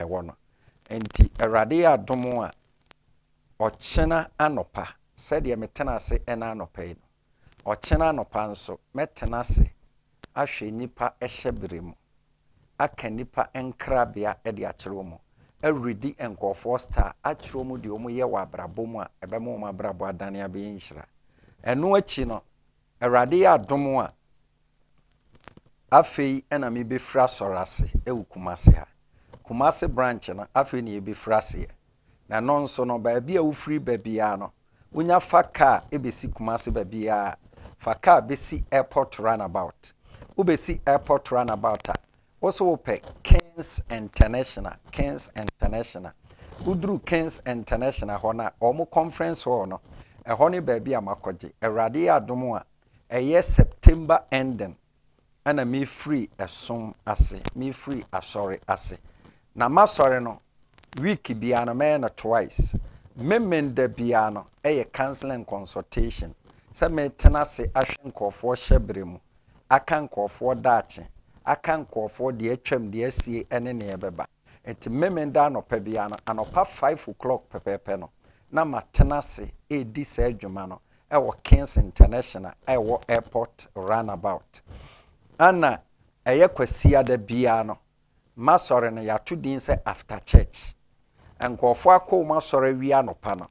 ɛwɔ no. Enti Awurade yɛ adom a, ɔkyena anɔpa, sɛdeɛ metena ase ɛna anɔpa yi no, ɔkyena anɔpa nso, mɛtena ase ahwɛ nnipa hyɛberɛ mu, aka nnipa nkrabea de akyerɛ wɔn, aredi nkorɔfoɔ star, akyerɛ wɔn deɛ wɔyɛ wɔ abrabɔ mu a ɛbɛma wɔn abrabɔ adane abɛyɛ nhyira. Ɛno akyi no, Awurade yɛ adom a, afei na mebɛfiri asɔre ase wɔ Kumasi ha. Kumasi branch no, afei na yɛbɛfiri aseɛ. Na ɛno nso no, baabi a wofiri ba biara no, wonya fa kaa bɛsi Kumasi baabiara a, fa kaa bɛsi airport runabout. Wobɛsi airport runabout a, Wo so wo pɛ Kings International, Kings International. Wo duru Kings International hɔ na wɔn conference hall no, ɛhɔ ne baabi a makɔgye. Awurade yɛ adom a, ɛyɛ September ending ɛna me firi ɛsom ase, me firi asɔre ase. Na masɔre no, week biara no mɛyɛ no twice. Memen da biara no ɛyɛ counseling consultation sɛ metena ase ahwɛ nkurɔfoɔ hyɛbrɛ mu aka nkurɔfoɔ daakye, aka nkurɔfoɔ deɛ atwam, deɛ asie ɛne neɛ ɛbɛba. Nti Memeneda anɔpa biara no, anɔpa five o'clock pɛpɛɛpɛ no, na matena ase redi saa adwuma no ɛwɔ Kings International a ɛwɔ Airport Runabout. Ɛna ɛyɛ Kwasiada biara no, masɔre no yɛato din sɛ After Church. Nkurɔfoɔ akɔ wɔn asɔre awia anɔpa no,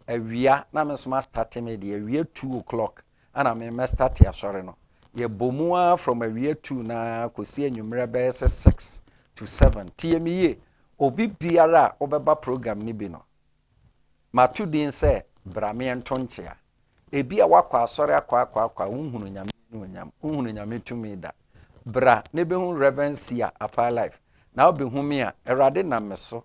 awia na me nso mastate me deɛ, awia two o'clock Ana me mɛ starte asɔre no yɛ bɔ mu aa from awia two no aa kɔsi anwummerɛ bɛyɛ sɛ six to seven tie me yie obi biara a wobɛba program no bi no mato din sɛ bra meɛ nto nkyea ebia woakɔ asɔre akɔ akɔ akɔ a wonhunu nyame anuonyam wonhunu nyame tumi da bra ne bɛhu Reverend Sia Apaa Life na wobɛhu me a awurade nam me so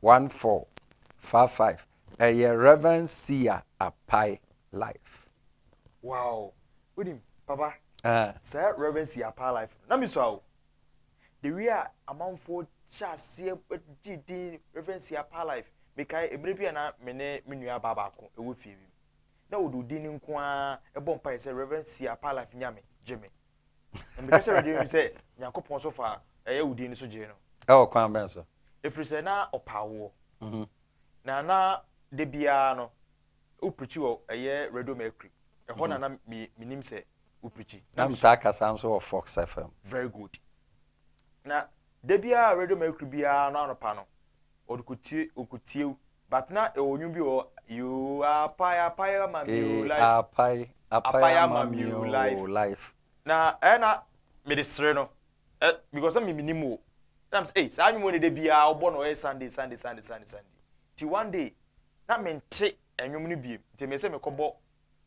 One four fa five ɛyɛ Rev Sia Apai life. Wow wonim papa saa Rev Sia Apai life no na me sua o the way a amanfoɔ hyɛ aseɛ gyee din Rev Sia Apai life mekae eberɛ bi a na me ne me nua baa baako ɛwɔ fie bi mu na ɔde odin no nko ara ɛbɔ mpaeɛ sɛ Rev Sia Apai life Nyame gye me Na meka kyerɛ Awurade mu sɛ, Nyankopɔn so fa ɛyɛ wo din no so gyee no. Ɛwɔ kwan bɛn so? Ɛfiri sɛ na ɔpa awoɔ. Mhm. Na na da biara no, woprikyi wɔ ɛyɛ Radio Mercury. Ɛhɔ mhm. na na menim sɛ woprikyi. Na metaa kasa nso wɔ Fox FM. Very good. Na da biara Radio Mercury biara no anɔpa no, ɔde kɔ tie, ɔkɔ tiew. But na ɛwɔ nwom bi wɔ yoo apae apae ama mi o life. Ee apae apae ama mi o life. Na ɛyɛ na mede sere no ɛ because na mi mi nim o. Na mi sɛ ee saa nwom ne da biara ɔbɔ no ɔyɛ Sunday Sunday Sunday Sunday Sunday. Ti one day na mi nte nwom no biem nti mi sɛ mi kɔ bɔ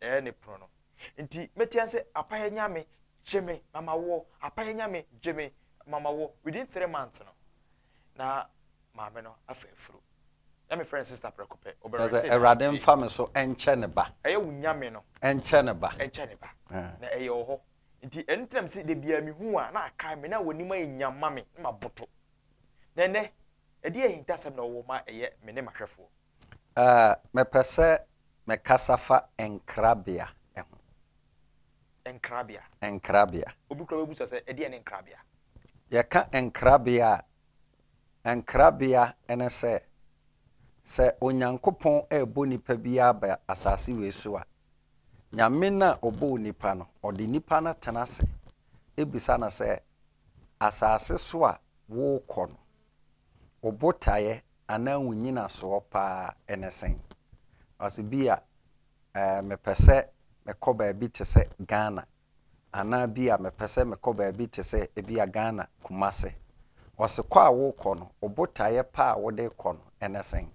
Ɛyɛ ne pono no. Nti mɛtia sɛ Apayɛ Nyame gye me na ma wo, Apayɛ Nyame gye me ma ma wo. Within three months no, na maame no afa afuro. Na mefrɛ no sister prɛko pɛ, ɔbɛ rente me. Awurade mfa me so nkyɛ ne ba. Ɛyɛ wo Nyame no. Nkyɛ ne ba. Nkyɛ ne ba. Na ɛyɛ ɔhɔ. Nti ɛno nti na mese da biara mehu wo a na akae me na w'anim ayɛ nyam ma me na maboto. Na ɛnɛ, ɛdeɛ ahintasɛm na ɔwɔ ma ɛyɛ me ne m'ahwɛfoɔ. Mepɛ sɛ Mɛkasa fa nkrabea ho. Nkrabea. Nkrabea. Obi koraa bɛbisa sɛ, ɛdeɛn ne nkrabea? Yɛka nkrabea a, nkrabea ne sɛ, sɛ Onyankopɔn rebɔ nipa bi aba asase wei so a, Nyame no a ɔbɔɔ nipa no, ɔde nipa no tena ase bisa no sɛ, Asase so a worekɔ no, wo botaeɛ anaa wo nnyinasoɔ pa ara ne sɛn? Ɔse ebia mepɛ sɛ mekɔ baabi te sɛ Ghana anaa ebia mepɛ sɛ mekɔ baabi te sɛ ebia Ghana Kumase. Ɔse kɔ a worekɔ no, wo botaeɛ pa a wode rekɔ no ne sɛn?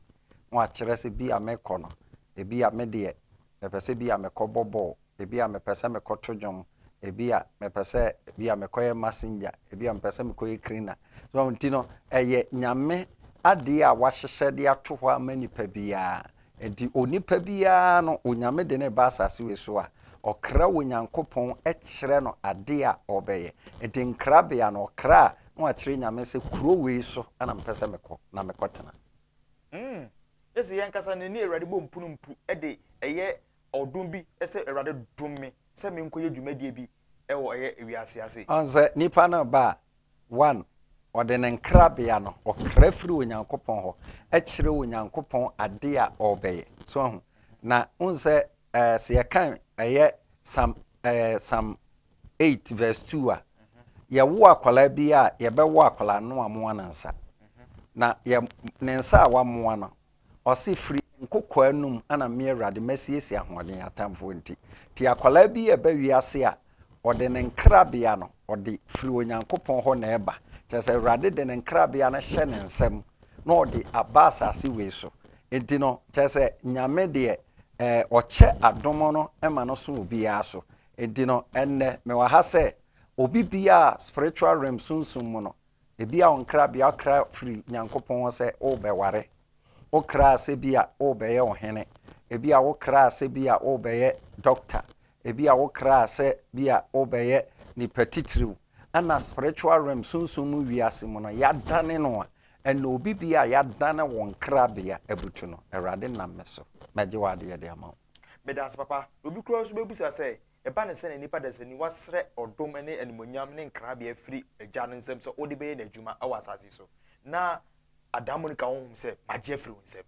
Na wakyerɛ sɛ ebia merekɔ no, ebia medeɛ mepɛ sɛ ebia mekɔbɔ bɔɔl Ebia mepɛ sɛ mekɔto dwom. Ebia mepɛ sɛ ebia mekɔyɛ messenger. Ebia mepɛ sɛ mekɔyɛ cleaner. So nti no, ɛyɛ Nyame adeɛ a wahyehyɛ de ato hɔ ama nipa biara. Nti onipa biara no, Onyame de no reba asase wei so a, ɔkra Onyankopɔn kyerɛ no adeɛ a ɔbɛyɛ. Nti nkrabea no, ɔkra a, na wakyerɛ Nyame sɛ kuro wei so na mepɛ sɛ mekɔ na mekɔtena. Mm. Ese yɛn ankasa no, ɛne Awurade bɔ mpunumpu de ɛyɛ Ɔdom bi sɛ Awurade dom me sɛ menkɔyɛ dwumadie bi wɔ ɛyɛ wiase ase. Ɔn sɛ nipa no reba a, one, ɔde ne nkrabea no, ɔkra firi Onyankopɔn hɔ kyerɛ Onyankopɔn adeɛ a ɔrebɛyɛ. So wahu? Na wohu sɛ ɛɛ sɛ yɛkan ɛyɛ Psalm ɛɛ Psalm eight verse two a, yɛwo akwadaa bi a, yɛbɛwo akwadaa no amoa ne nsa. Na yɛ ne nsa a wamoa no, Ɔse firi nkokoaa anum ana me awurade masiesie ahoɔden atamfoɔ nti nti akwadaa bi ɛba wiase a ɔde ne nkrabea no ɔde firi Onyankopɔn hɔ na ɛba kyerɛ sɛ awurade de ne nkrabea no hyɛ ne nsam na ɔde aba asase wei so nti no kyerɛ sɛ Nyame deɛ ɛɛ ɔkyɛ adom no ma no so obiara so nti no ɛnnɛ mewɔ ha sɛ obi biara spiritual realm sunsum mu no Ebia wo nkrabea ɔkra firi Nyankopɔn hɔ sɛ worebɛware. Wokraa sɛ bi a worebɛyɛ ɔhene. Ebia wokraa sɛ bi a worebɛyɛ dɔkta. Ebia wokraa sɛ bi a worebɛyɛ nipa titiriw. Ɛna spiritual realm, sunsum mu wiase mu no, yɛadane no a, ɛna obi bi a yɛadane wo nkrabea abutu no. Awurade nam me so mɛgye w'adeɛ de ama wo. Meda wo ase papa. Na obi koraa nso bɛbisa sɛ, Ɛba no sɛnea nnipa dasaniwa srɛ ɔdom ne animuonyam ne nkrabea firi Agya no nsam sɛ ɔde bɛyɛ n'adwuma wɔ asase so, na adaemone-ka honhom sɛ, Magye afiri wo nsam.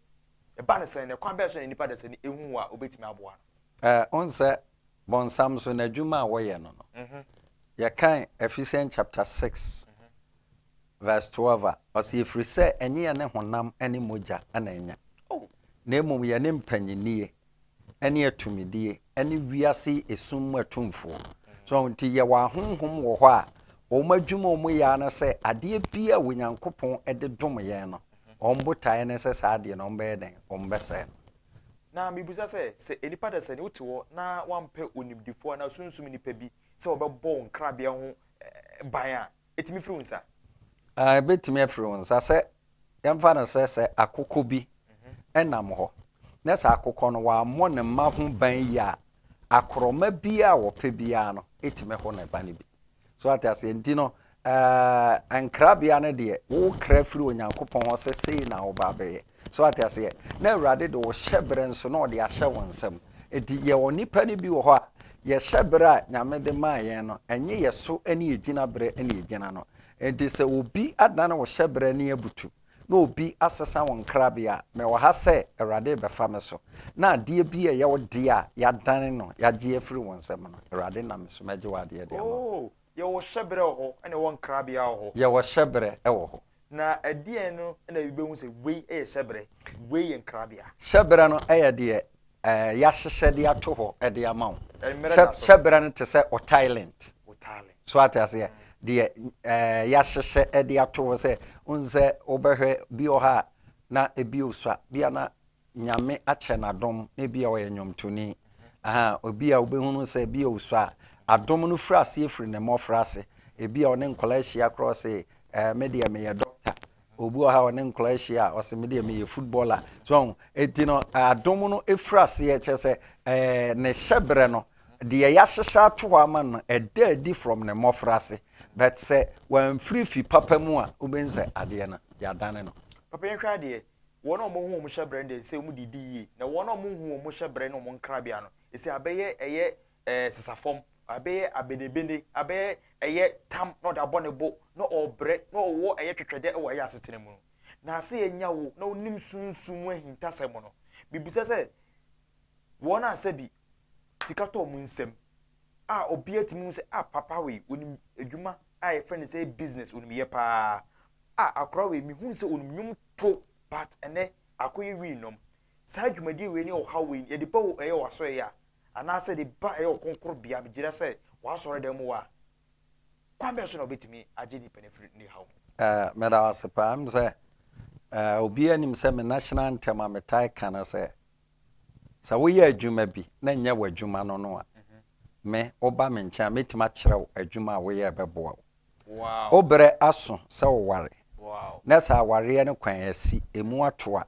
Ɛba no sɛn, na ɛkwan bɛn so na nnipa dasani ahu wɔ a ɔbɛtumi aboa no? Wohu sɛ bɔnsam nso n'adwuma a wɔyɛ no no, yɛkan Ephesians chapter six verse twelve a, ɔse, Ɛfiri sɛ ɛnye yɛne honam ne mogya na ɛnya, na mmom yɛne mpanyinnie ne atumidie ne wiase esum mu atumfoɔ. So nti yɛwɔ ahonhom wɔ hɔ a wɔn adwuma wɔn yɛ ara sɛ adeɛ bi a Onyankopɔn de dom yɛn no, wɔn botaeɛ ne sɛ saa adeɛ no wɔn bɛyɛ dɛn? Wɔn bɛsɛe no. Na mebisa sɛ, sɛ nnipa dasani wote hɔ na woampɛ onimdifoɔ anaa sunsum nipa bi sɛ ɔbɛbɔ wo nkrabea ho ban a, etumi firi wo nsa? Aa, ebetumi afiri wo nsa. Sɛ yɛmfa no sɛ sɛ akokɔ bi nam hɔ, na sɛ akokɔ no wammɔ ne mma ho ban yie a, akorɔma biara a wɔpɛ biara no tumi ho ne ba no bi. So ate aseɛ? Nti no, ɛɛ, nkrabea no deɛ, wokra firi Onyankopɔn hɔ sɛ sei na woba abɛyɛ. So wate aseɛ? Na Awurade de wo hyɛberɛ nso na ɔde ahyɛ wo nsam. Enti yɛwɔ nnipa no bi wɔ hɔ a, yɛ hyɛberɛ a Nyame de maa yɛn no, ɛnye yɛ so ne yɛ gyinaberɛ na yɛgyina no. Enti sɛ obi adane wo hyɛberɛ ani abutu, na obi asesa wo nkrabea a, mewɔ ha sɛ Awurade rebɛfa me so, na adeɛ bi a ɛyɛ wo dea a yɛadane no, yɛagye afiri wo nsam no, Awurade nam me so mɛgye w'adeɛ de ama wo. Yɛwɔ hyɛberɛ wɔ hɔ na yɛwɔ nkrabea wɔ hɔ. Yɛwɔ hyɛberɛ wɔ hɔ. Na ɛdeɛn no na yɛbɛhu sɛ wei yɛ hyɛberɛ, wei yɛ nkrabea? Hyɛberɛ no yɛ deɛ yɛahyehyɛ de ato hɔ de ama wo. Hyɛberɛ no te sɛ otailent. So ate aseɛ? Deɛ yɛahyehyɛ de ato hɔ sɛ, wohu sɛ wobɛhwɛ bi wɔ hɔ a na ebi resua, bi a na Nyame akyɛ no adom na ebia ɔyɛ nnwomtoni, ahaa, obi a wobɛhu no sɛ ebia ɔsɔ a, adom no firi aseɛ firi ne mmɔfra ase. Ebia ɔne nkwadaa hyia koraa ɔse, eh, me deɛ meyɛ dɔkta. Obi wɔ ha a ɔne nkwadaa hyia a, ɔse me deɛ meyɛ footballer. So ahu, enti no adom no firi aseɛ, kyerɛ sɛ eh, ne hyɛberɛ no, deɛ yɛahyehyɛ ato hɔ ama no, ɛda adi from ne mmɔfra ase. But sɛ wamfiri fi papa mu a, wobɛhu sɛ adeɛ no, yɛadane no. Papa yɛnhwɛ adeɛ, Wɔn a wɔahu wɔn hyɛbrɛ no deɛ, ɛsɛ sɛ wɔde di yie, na wɔn a wɔnhu wɔn hyɛbrɛ ne wɔn nkrabea no, ɛsɛ abɛyɛ ɛyɛ ɛɛ sesafam, abɛyɛ abenebene, abɛyɛ ɛyɛ tam na ɔde abɔ ne bo, na ɔrebrɛ, na ɔwɔ ɛyɛ twɛtwɛdɛ wɔ ɛyɛ asetena mu no. Na sɛ yɛanya wo na wonim sunsum mu ahintasɛm no, mebisa sɛ, wɔn a sɛbi sika tɔ wɔn nsam a obiara tumi hu sɛ ah papa wei onim adwuma a yɛfrɛ no sɛ business onim yɛ paa a akora wei mehu sɛ onim nnwom to but ɛnɛ akɔyɛ wii nom saa dwumadie wei ne ɔhaw wei yɛde ba ɛyɛ wasɔre yɛ a anaasɛ de ba ɛyɛ ɔkronkron bea gyina sɛ wasɔre dɛm wɔ a kwan bɛn so na obetumi agye nipa no firi ne haw mu. Uh, meda ase paa m sɛ uh, obiara nim sɛ me national anthem a metae ka no sɛ Sɛ woyɛ adwuma bi na ɛnyɛ w'adwuma no no a, me, woba me nkyɛn a, mɛtumi akyerɛ wo adwuma a woyɛ a ɛbɛboa wo. Wo berɛ aso sɛ woware, na sɛ awareɛ no kwan asi, ɛmu ato a,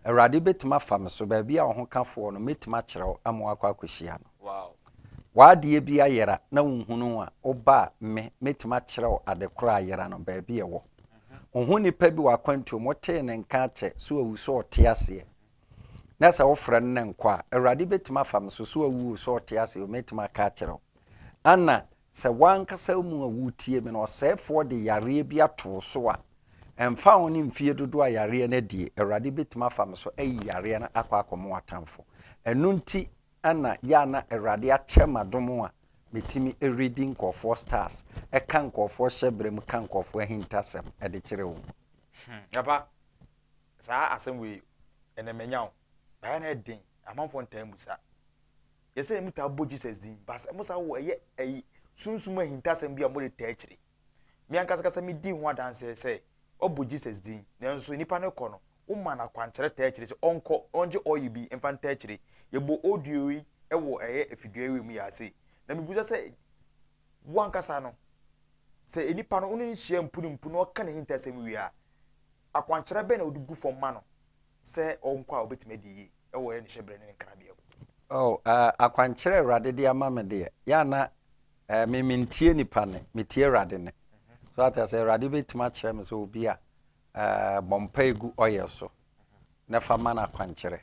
Awurade bɛtumi afa me so, baabi a wo ho ka foɔ no, mɛtumi akyerɛ wo ama woakɔ akɔhyia no. W'adeɛ bi ayera na wonhunu a, woba a, me, mɛtumi akyerɛ wo ade korɔ a ayera no, baabi a ɛwɔ. Wohu nipa bi wɔ akwantuo mu, wotee ne nka akyɛ sɛ wawu, sɛ ɔte aseɛ, na sɛ wofrɛ no na nkɔ a, Awurade bɛtumi afa me so, so awu o, so ɔte ase o, mɛtumi aka akyerɛ wo. Ana sɛ w'ankasa wo mu a woretie me no, ɔsɛefoɔ de yareɛ bi ato wo so a, ɛmfa ho ne mfeɛ dodoɔ a yareɛ no adie, Awurade bɛtumi afa me so ayi yareɛ no akɔ akɔma w'atamfo. Ɛno nti na yɛ a na Awurade akyɛ m'adom a metumi redi nkurɔfoɔ stars, ka nkurɔfoɔ hyɛberɛ mu, ka nkurɔfoɔ ahintasɛm de kyerɛ wɔn. Ɛba Saa asɛm wei, ɛnɛ manya wo. Baeɛ no ɛden, amanfoɔ ntaa mmu saa. Yɛ sɛ yɛmu taa bɔ Jesus din, but ɛmo saa wɔ ɛyɛ ɛyi sunsum ahintasɛm bi a mode taa akyire. Me ankasa kasa me di ho adanseɛ sɛ wabɔ Jesus din, nanso nipa no kɔ no, wo maa no akwankyerɛ taa akyire sɛ ɔnkɔ na ɔngye oil bi mfa ntaa akyire. Yɛ bɔ audio yi wɔ ɛyɛ afidua wei mu yɛase. Na me busa sɛ wo ankasa no, sɛ nipa no wo ne no hyia mpunimpu na ɔka nahintasɛm wie a, Akwankyerɛ bɛn na wode gu fam ma no sɛ ɔnkɔ a obetumi adi yiye wɔ ne hyɛbrɛ ne ne nkrabea mu? Oh, eh, akwankyerɛ a Awurade de ama me deɛ, yɛ a na, eh, me mentie nnipa nne, metie Awurade nne. So ate aseɛ? Awurade betumi akyerɛ me sɛ obi a, eh, bɔ mpae gu oil so na fa ma no akwankyerɛ.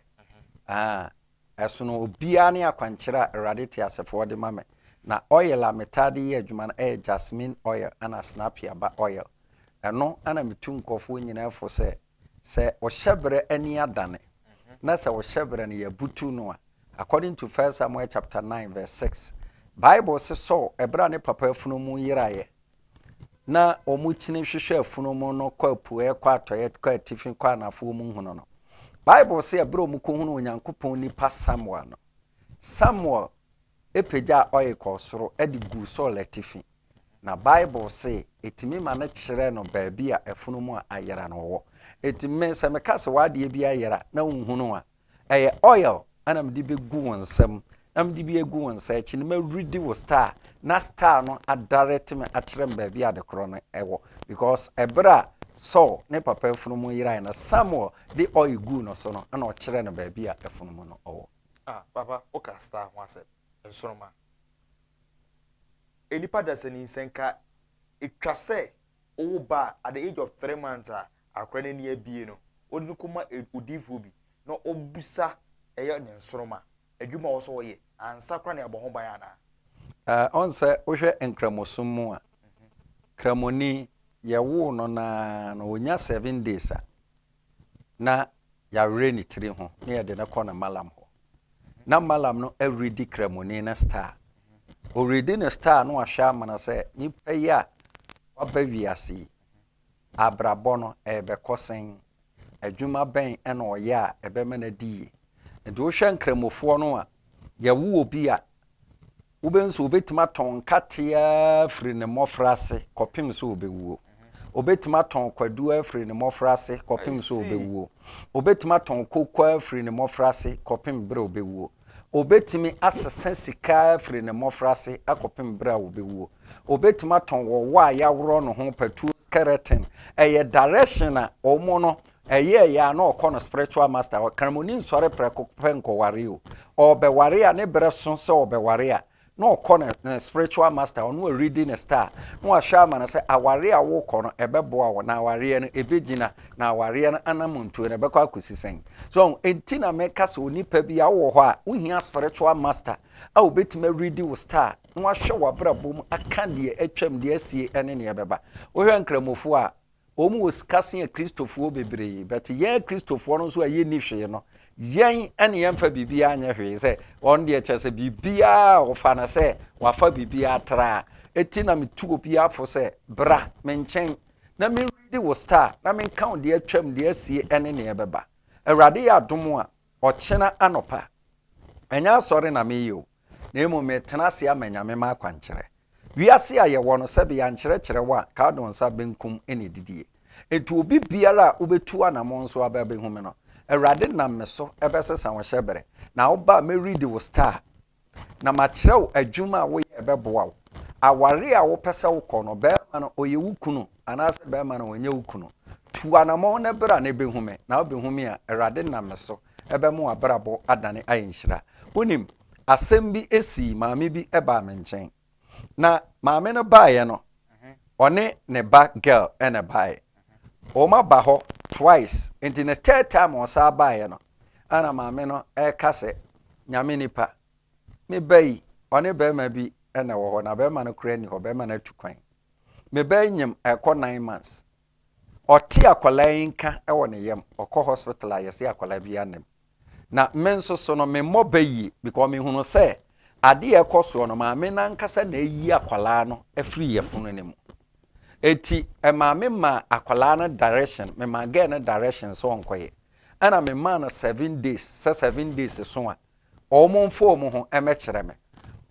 Ah, Ɛsono obiara ne akwankyerɛ a Awurade teasefoɔ de ma me. Na oil a metaa de yɛ adwuma no yɛ jasmine oil ɛna snapia ba oil. Ɛno na metu nkurɔfoɔ nyinaa fo sɛ, sɛ ɔhyɛ berɛ ani adane, na sɛ ɔhyɛ berɛ no yɛabutu no a, according to First Samuel chapter nine verse six, Bible se Saul ɛberɛ a ne papa afunumu yeraeɛ, na wɔkyini hwehwɛ afunu mu no kɔ apueɛ kɔ atɔeɛ kɔ atifi kɔ anafoɔ mu hunu no bible sɛ ɛberɛ a wɔkɔhunu onyankopɔn nipa samuel no samuel pagyaa ɔye kɔɔ soro de guu saul atifi na bible se ɛtumi ma no kyerɛ no baabi a afunu mu a ayera no wɔ ɛti me sɛ meka sɛ w'adeɛ bi ayera na wonhunu a Ɛyɛ oil na mede bɛgu wo nsam, na mede bi agu wo nsa akyi no mɛredi wo star na star no adarɛte me akyerɛ me baabi a adekorɔ no wɔ because ɛberɛ a Saul ne papa afunumu yerae no Samuel de oil guu no so no na ɔkyerɛ no baabi a afunumu no wɔ. Ah papa woka star ho asɛm nsoroma nnipa dasani nsɛnka ɛtwa sɛ wowo ba a at the age of three months a Akora no ani abue no, wode no kɔma odiyifoɔ bi na ɔbisa ɛyɛ ne nsoromma, adwuma a ɔwɔ sɛ ɔyɛ ansa koraa na abɔ ho ban anaa? Ɔn sɛ wohwɛ Nkramosom mu a, Kramoni, yɛwoo no no ara no, ɔnya seven days a, na yɛawerɛ ne tiri ho na yɛde no kɔ no Malam hɔ. Na Malam no redi Kramoni no star. Ɔredi ne star na wahwɛ amana sɛ nipa yi a waba wiase yi, Abrabɔ no, ɛrebɛkɔ sɛn? Adwuma bɛn na ɔyɛ a ɛbɛma no adi yie? Enti wohwɛ Nkramofoɔ no a, yɛwo obi a, wobɛhu sɛ ɔbɛtumi atɔn nkate ara firi ne mmɔfraase kɔpem sɛ ɔbɛwuo. Ɔbɛtumi atɔn kwadu ara firi ne mmɔfraase kɔpem sɛ ɔbɛwuo. Ɔbɛtumi atɔn koko ara firi ne mmɔfraase kɔpem berɛ a ɔbɛwuo. Obetumi asesa sika firi ne mmɔfraase akɔpem berɛ a ɔbɛwuo. Obetumi atɔn wɔwɔ a yɛaworɔ no ho patuo skeleton. Ɛyɛ direction a ɔmo no ɛyɛɛyɛ a na ɔkɔ no spiritual master hɔ. Kramoni nsɔre prɛko pɛ nkɔware o. Ɔɔbɛware a ne berɛ so sɛ ɔɔbɛware a na ɔkɔ ne ne spiritual master ɔno a ɔredi ne star na wahwɛ ama no sɛ awareɛ a wokɔ no ɛbɛboa wo na awareɛ no ɛbɛgyina na awareɛ no anamontuo no ɛbɛkɔ akɔsi sɛn so ɛnti na meka sɛ onipa bi a wowɔ hɔ a wohia spiritual master a wobɛtumi awuredi wo star na wahwɛ w'abrabɔ mu aka deɛ atwam deɛ asie ne neɛ ɛbɛba wohwɛ nkramofoɔ a Wɔn wɔ sika sen Kristofoɔ bebree, but yɛn Kristofoɔ no nso a yɛnni hwee no, yɛn ne yɛmfa biribiara nyɛ hwee, sɛ wɔn deɛ kyerɛ sɛ biribiara a wɔfa no sɛ wɔafa biribiara atra, eti na metu obiara fo sɛ bra me nkyɛn na me readi wo star na menka wo deɛ atwam, deɛ asie ɛne nea ɛbɛba. Awurade yɛ adom a, ɔkyena anɔpa, ɛnyɛ asɔre na meyɛ o. na mmom metena ase ama Nyame m'akwankyerɛ. Wiase a yɛwɔ no, sɛbe yɛankyerɛ kyerɛw a, kadoo nsa benkum na edidie. Enti obi biara a wobetu anamɔn so aba abehu me no, Awurade nam me so bɛsesa wo hyɛbere, na woba a mɛredi wo star, na makyerɛw adwuma a woyɛ a ɛbɛboa wo. Aware a wopɛ sɛ wokɔ no, barima no ɔyɛ wo kunu anaasɛ barima no ɔnyɛ wo kunu. Tu anamɔn na bra na behu me, na wobehu me a Awurade nam me so ɛbɛma w'abrabɔ adane ayɛ nhyira. Wonim, asɛm bi sii maame bi baa me nkyɛn. Na maame no baeɛ no, ɔne ne ba girl na ɛbaeɛ. Wɔn aba hɔ twice, nti ne third time a ɔsan baeɛ no, ɛna maame no ɛreka sɛ, Nyame nipa, me ba yi, ɔne bɛrima bi na ɛwɔ hɔ, na bɛrima no koraa nni hɔ, bɛrima no atu kwan. Me ba yi nyem ɛrekɔ nine months, Ɔte akwadaa yi nka wɔ ne yam, ɔkɔ hospital a yɛse akwadaa biara nnim. Na me nso so no, memmɔ bɛ yie because mehunu sɛ adeɛ a ɛkɔ soɔ no, maame no ankasa na ayi akwadaa no afiri yafunu no mu. Enti maame maa akwadaa no direction, memaa girl no direction sɛ ɔnkɔyɛ. Ɛna memaa no seven days, sɛ seven days so a, Wɔmfa wɔn ho mmɛkyerɛ me.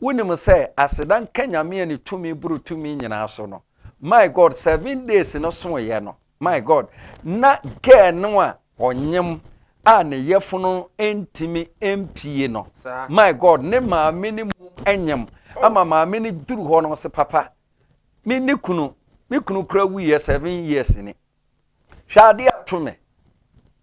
Wonim sɛ aseda nka Nyame a ne tumi boro tumi nyinaa so no, my God, seven days no soeɛ no, my God, na girl no a ɔnyem a ne yɛfono ntumi mpie no, my God, ne maame no mmom nyem ama maame no duru hɔ no, ɔse papa, me ne kunu, me kunu kora wuiɛ seven years ni, Hwɛ ade a to me.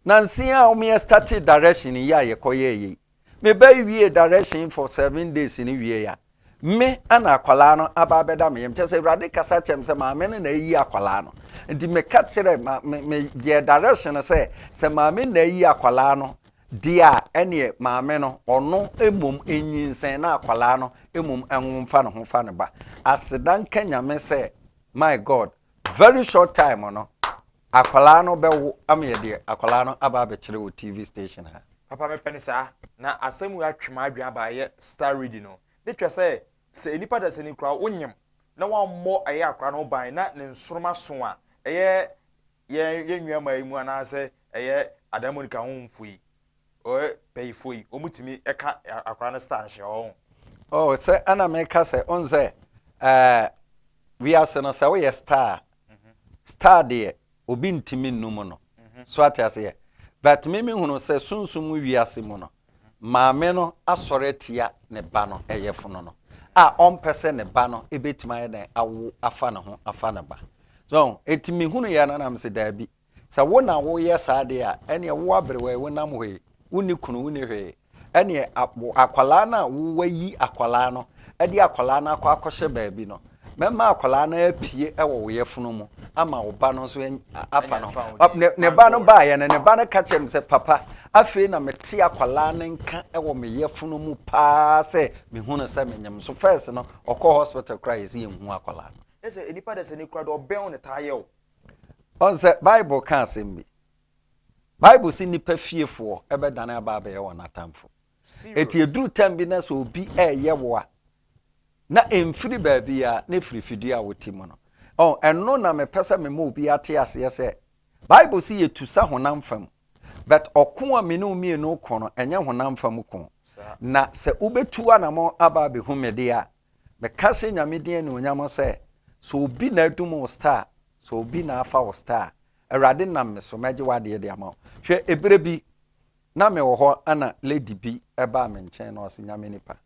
Nanse a ɔmo yɛ startee direction yi a yɛkɔ yɛɛ yɛ yi, me ba yi wiee direction for seven days no wiee a, me ɛna akwadaa no aba abɛda me yam. Kyɛ sɛ Awurade kasa kyɛm sɛ maame no na ayi akwadaa no. Nti me ka kyerɛ ma me me yɛ direction sɛ sɛ maame na ayi akwadaa no deɛ a ɛneɛ maame no ɔno mmom nyinsɛn na akwadaa no mmom ɛnwo mfa ne ho fa ne ba. Aseda nka Nyame sɛ my God Very short time no akwadaa no bɛwo ama yɛde akwadaa no aba abɛkyerɛ wɔ TV station ha. Papa mepɛ no saa. Na asɛm wei atwe m'adwene aba ɛyɛ star reading no. Ne kyerɛ sɛ, sɛ nnipa dasani koraa wonyem na wammɔ ɛyɛ akwadaa no ho ban na ne nsoroma so a, ɛyɛ yɛn yɛn nuammaa yi mu anaasɛ ɛyɛ Adan Monica ho mfo yi, Ɔyɛ pɛyifoɔ yi ɔmu tumi ɛka akora no star nhyɛ ɔho. Oh sɛ ɛna me ka sɛ ɔn sɛ ɛɛ wiase no sɛ woyɛ star mhm. star deɛ obi ntumi nnu mu no mhm. so ate aseɛ but me me hunu sɛ sunsum mu wiase mu no mhm. maame no asɔre atia ne ba no ɛyɛ fono no a ɔmpɛ sɛ ne ba no ɛbɛtumi ayɛ dɛn awo afa ne ho afa ne ba so ɛti me hunu yɛ no nam sɛ daabi Sɛ wo na woreyɛ saa deɛ a, ɛnneɛ wo aberewaa yi, wonam hɔ yi, wonni kunu, wonni hwee. Ɛnneɛ a, wo akwadaa no a woayi akwadaa no de akwadaa no akɔ akɔhyɛ baabi no, mɛma akwadaa no apue wɔ wo yafunu mu ama wo ba no nso afa no ho. Ɔ, ne, ne ba no baeɛ no, ne ba no ka kyerɛɛ me sɛ, Papa, afei na mete akwadaa no nka wɔ me yafunu mu paa sɛ mehu no sɛ menyem. So first no, ɔkɔɔ hospital koraa a, yɛse yɛnhu akwadaa no. Ɛsɛ nnipa de sɛ ne kura de ɔbɛn wo na ɛtaa yɛ wo. Ɔn sɛ Bible ka asɛm bi. Bible se nnipa fiefoɔ bɛdane aba abɛyɛ wɔn atamfo. Eti eduru tam bi na sɛ obi ɛreyɛ wo a, na ɛmfiri baabi a na ɛfiri fidie a wote mu no. Ɔn, ɛno na mepɛ sɛ mema obi ate aseɛ sɛ Bible se yɛtu sa honam fam. But ɔko a me ne wo mmienu ko no, ɛnyɛ honam fam ko. Na sɛ wobɛtu anamɔ aba abɛhu me deɛ a, Meka hyɛ Nyame din anuonyam sɛ, sɛ obi na adum wo star a, sɛ obi na afa wo star a, Awurade nam me so, mɛgye w'adeɛ de ama wo. Hwɛ, eberɛ bi, na me wɔ hɔ ɛna lady bi baa me nkyɛn na ɔse, Nyame nipa,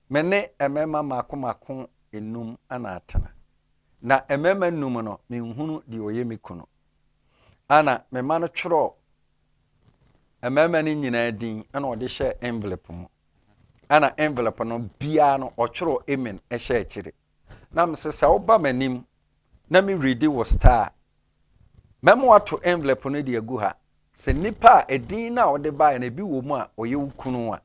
me ne mmarima mmaako mmaako nnum na atena, na mmarima nnum no, me nhunu deɛ ɔyɛ me kunu. Ɛna me ma no twerɛɔ mmarima no nyinaa din ɛna ɔde hyɛɛ envelope mu. ɛna envelope no biara no ɔtwerɛ amen ɛhyɛ akyire na mese sɛ woba m'anim na me redi wo star mɛma wato envelope no de agu ha sɛ nipa a ɛdin no a wode baeɛ no ebi wɔ mu a ɔyɛ wo kunu a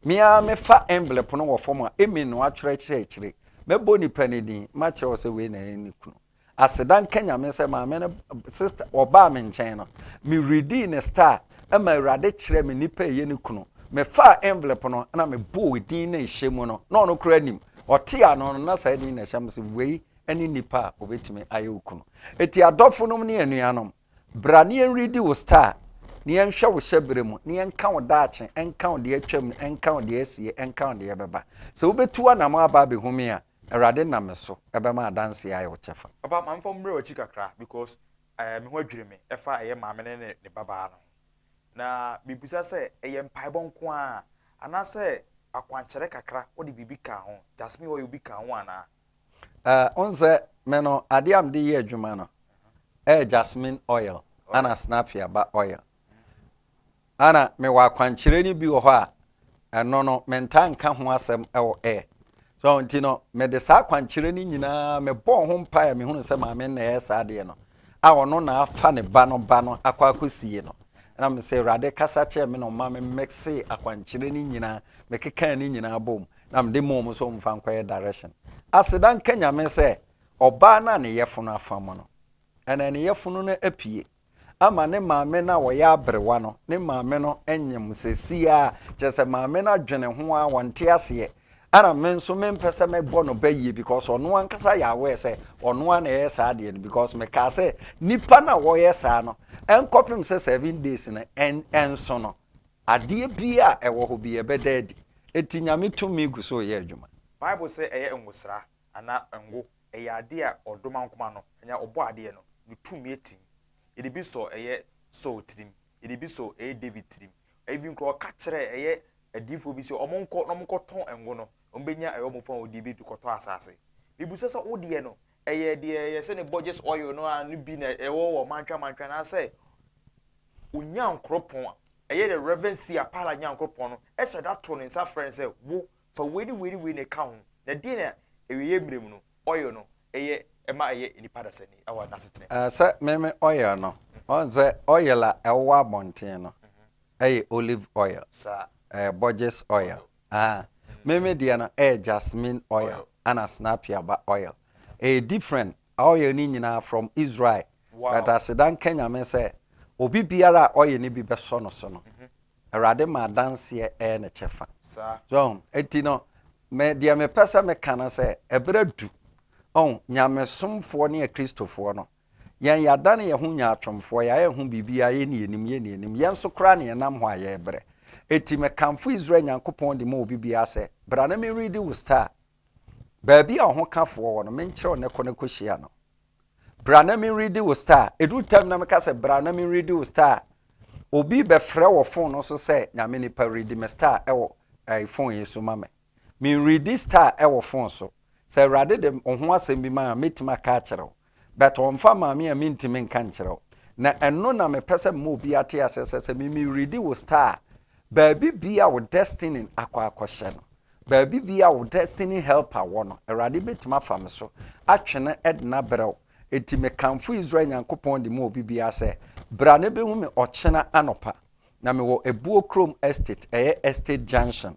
meaa mefa envelope no wɔ fam a amen no atwerɛ kyerɛ akyire mɛbɔ nipa no din makyerɛ wo sɛ wei na ɛyɛ ne kunu Aseda nka Nyame sɛ maame no sister wɔbaa me nkyɛn no. Me redii ne star ma Awurade kyerɛɛ me nipa ɛyɛ ne kunu. Me faa envelope no na me bɔɔ edin na ɛhyɛ mu no na ɔno koraa nim. Ɔtee ano no na saa edin na ɛhyɛ me se wei ɛne nipa a ɔbɛtumi ayɛ wo kunu. Eti adɔfo nom ne anuanom. Bra na yɛnredi wo star, na yɛnhwɛ wo hyɛberɛ mu, na yɛnka wo daakye, ɛnka wo deɛ atwam, ɛnka wo deɛ asie, ɛnka wo deɛ ɛbɛba. Sɛ wobɛtu w'anammɔn aba abɛhu me a, Awurade nam me so bɛma adanseɛ ayɛ wo kyɛfa. Papa ma memfa wo mmra w'akyi kakra because ɛɛ me ho adwiri me ɛfa ɛyɛ maame ne ne ne babaa no ho. Na mebisa sɛ ɛyɛ mpaebɔ nko ara anaasɛ akwankyerɛ kakra wode biribi kaa ho, Jasmine ɔyɛ obi kaa ho anaa? Eh, wohu sɛ me no, adeɛ a mede yɛ adwuma no, ɛyɛ jasmine oil ana snapia ba oil. Ana mewɔ akwankyerɛ no bi wɔ hɔ a, ɛno no, mentaa nka ho asɛm wɔ air. So nti no, mede saa akwankyerɛ no nyinaa mebɔɔ ho mpaeɛ a mehunu sɛ maame na ɛyɛ saa adeɛ no, a ɔno na afa ne ba no ba no akɔ akɔsie no. Ɛna mesɛ Awurade kasa kyerɛ me na ɔma me mɛkse akwankyerɛ no nyinaa, mekekaa ne nyinaa bɔɔ mu. na mede maa wɔn sɛ wɔmfa nkɔyɛ direction. Aseda nka Nyame sɛ ɔbaa no a ne yɛfono afam no, ɛnɛ ne yɛfono no apue ama ne maame no a ɔyɛ aberewa no. Ne maame no nyem seesei ara, kyerɛ sɛ maame no adwene ho ara, ɔnte aseɛ. Ɛna me nso mempɛ sɛ mɛbɔ no bayie because ɔno ankasa yɛ aware sɛ ɔno ara na ɛyɛ saa adeɛ no because mekaa sɛ nipa no a wɔyɛ saa no ɛnkɔpem sɛ seven days no ɛnso no Adeɛ biara a ɛwɔ hɔ biara bɛda adi. Enti Nyame tumi gu so reyɛ adwuma. Bible sɛ ɛyɛ ngosra anaa ngo. Ɛyɛ adeɛ a ɔdomankoma no, anaa ɔbɔadeɛ no, ne tumi atim. Yɛde bi sɔ ɛyɛ Saul tirim. Yɛde bi sɔ ɛyɛ David tirim. Even koraa ɔka kyerɛɛ ɛyɛ adiyifoɔ bi sɛ wɔnkɔ na wɔnkɔtɔn ngo no, wɔbɛnya ɛyɛ wɔn fawodie bi de kɔtɔ asase. Mebisa sɛ, wo deɛ no, Ɛyɛ deɛ yɛfrɛ no Borges oil no ara no bi na ɛwɔ wɔ Mantwa Mantwa anaasɛ Onyankropɔn a ɛyɛ dɛ Reverend C. Apala Nyankropɔn no hyɛ da to ne nsa frɛ no sɛ wo fa wei ne wei ne wei na ɛka ho na deɛ na awieeɛ mmerɛ mu no oil no ɛyɛ ɛma ɛyɛ nnipa dasani wɔ n'asetena mu. Sɛ meme oil no ɔhu sɛ oil a ɛwowɔ abɔnten no ɛyɛ olive oil, ɛyɛ Borges oil. Ah me me deɛ no ɛyɛ jasmine oil ɛna snapia ba oil ɛyɛ different oil no nyinaa from Israel but aseda nka Nyame sɛ obi biara a oil no bi bɛsɔ no so no Awurade ma adanseɛ ɛyɛ ne kyɛfa so ɔho ɛti no me deɛ me pɛ sɛ me ka no sɛ ɛberɛ adu ɔho Nyamesomfoɔ ne akristofoɔ no Yɛn yɛadane yɛn ho nyaatwomfoɔ, yɛayɛ yɛn ho biribiara, yɛnni yɛnim, yɛnni yɛnim, yɛn nso koraa na yɛnam hɔ a yɛrebrɛ. Enti mekamfo Israel Nyankopɔn de ma obibiara sɛ, Bra na menredi wo star, baabi a ɔhokafoɔ wɔ no, menkyerɛ wo nnɛ, kɔ na kɔhyia no. Bra na menredi wo star. Ɛdu ntam na meka sɛ, Bra na menredi wo star. Obi bɛfrɛ wɔ fon no so sɛ, Nyame nipa, redi me star wɔ ɛɛ fon yi so ma me. Me readi star wɔ phone so. Sɛ awurade de woho asɛm bi ma a mɛtumi aka akyerɛ wo. But ɔmfa mmaa me a mentumi nka nkyerɛ wo. Na ɛno na mepɛ sɛ mema obi ate aseɛ sɛ sɛ me me readi wo star a baabi biaa wo destiny akɔ akɔhyɛ no, baabi biaa wo destiny helper wɔ no awurade bɛtumi afa me so atwe no ɛdena abrɛ wo. Enti me kamfo Israel Nyankopɔn de ma obi biaa sɛ bra na bɛhu me ɔkyena anɔpa. Na mewɔ Ɛbuo Kurom Estate, ɛyɛ Estate Junction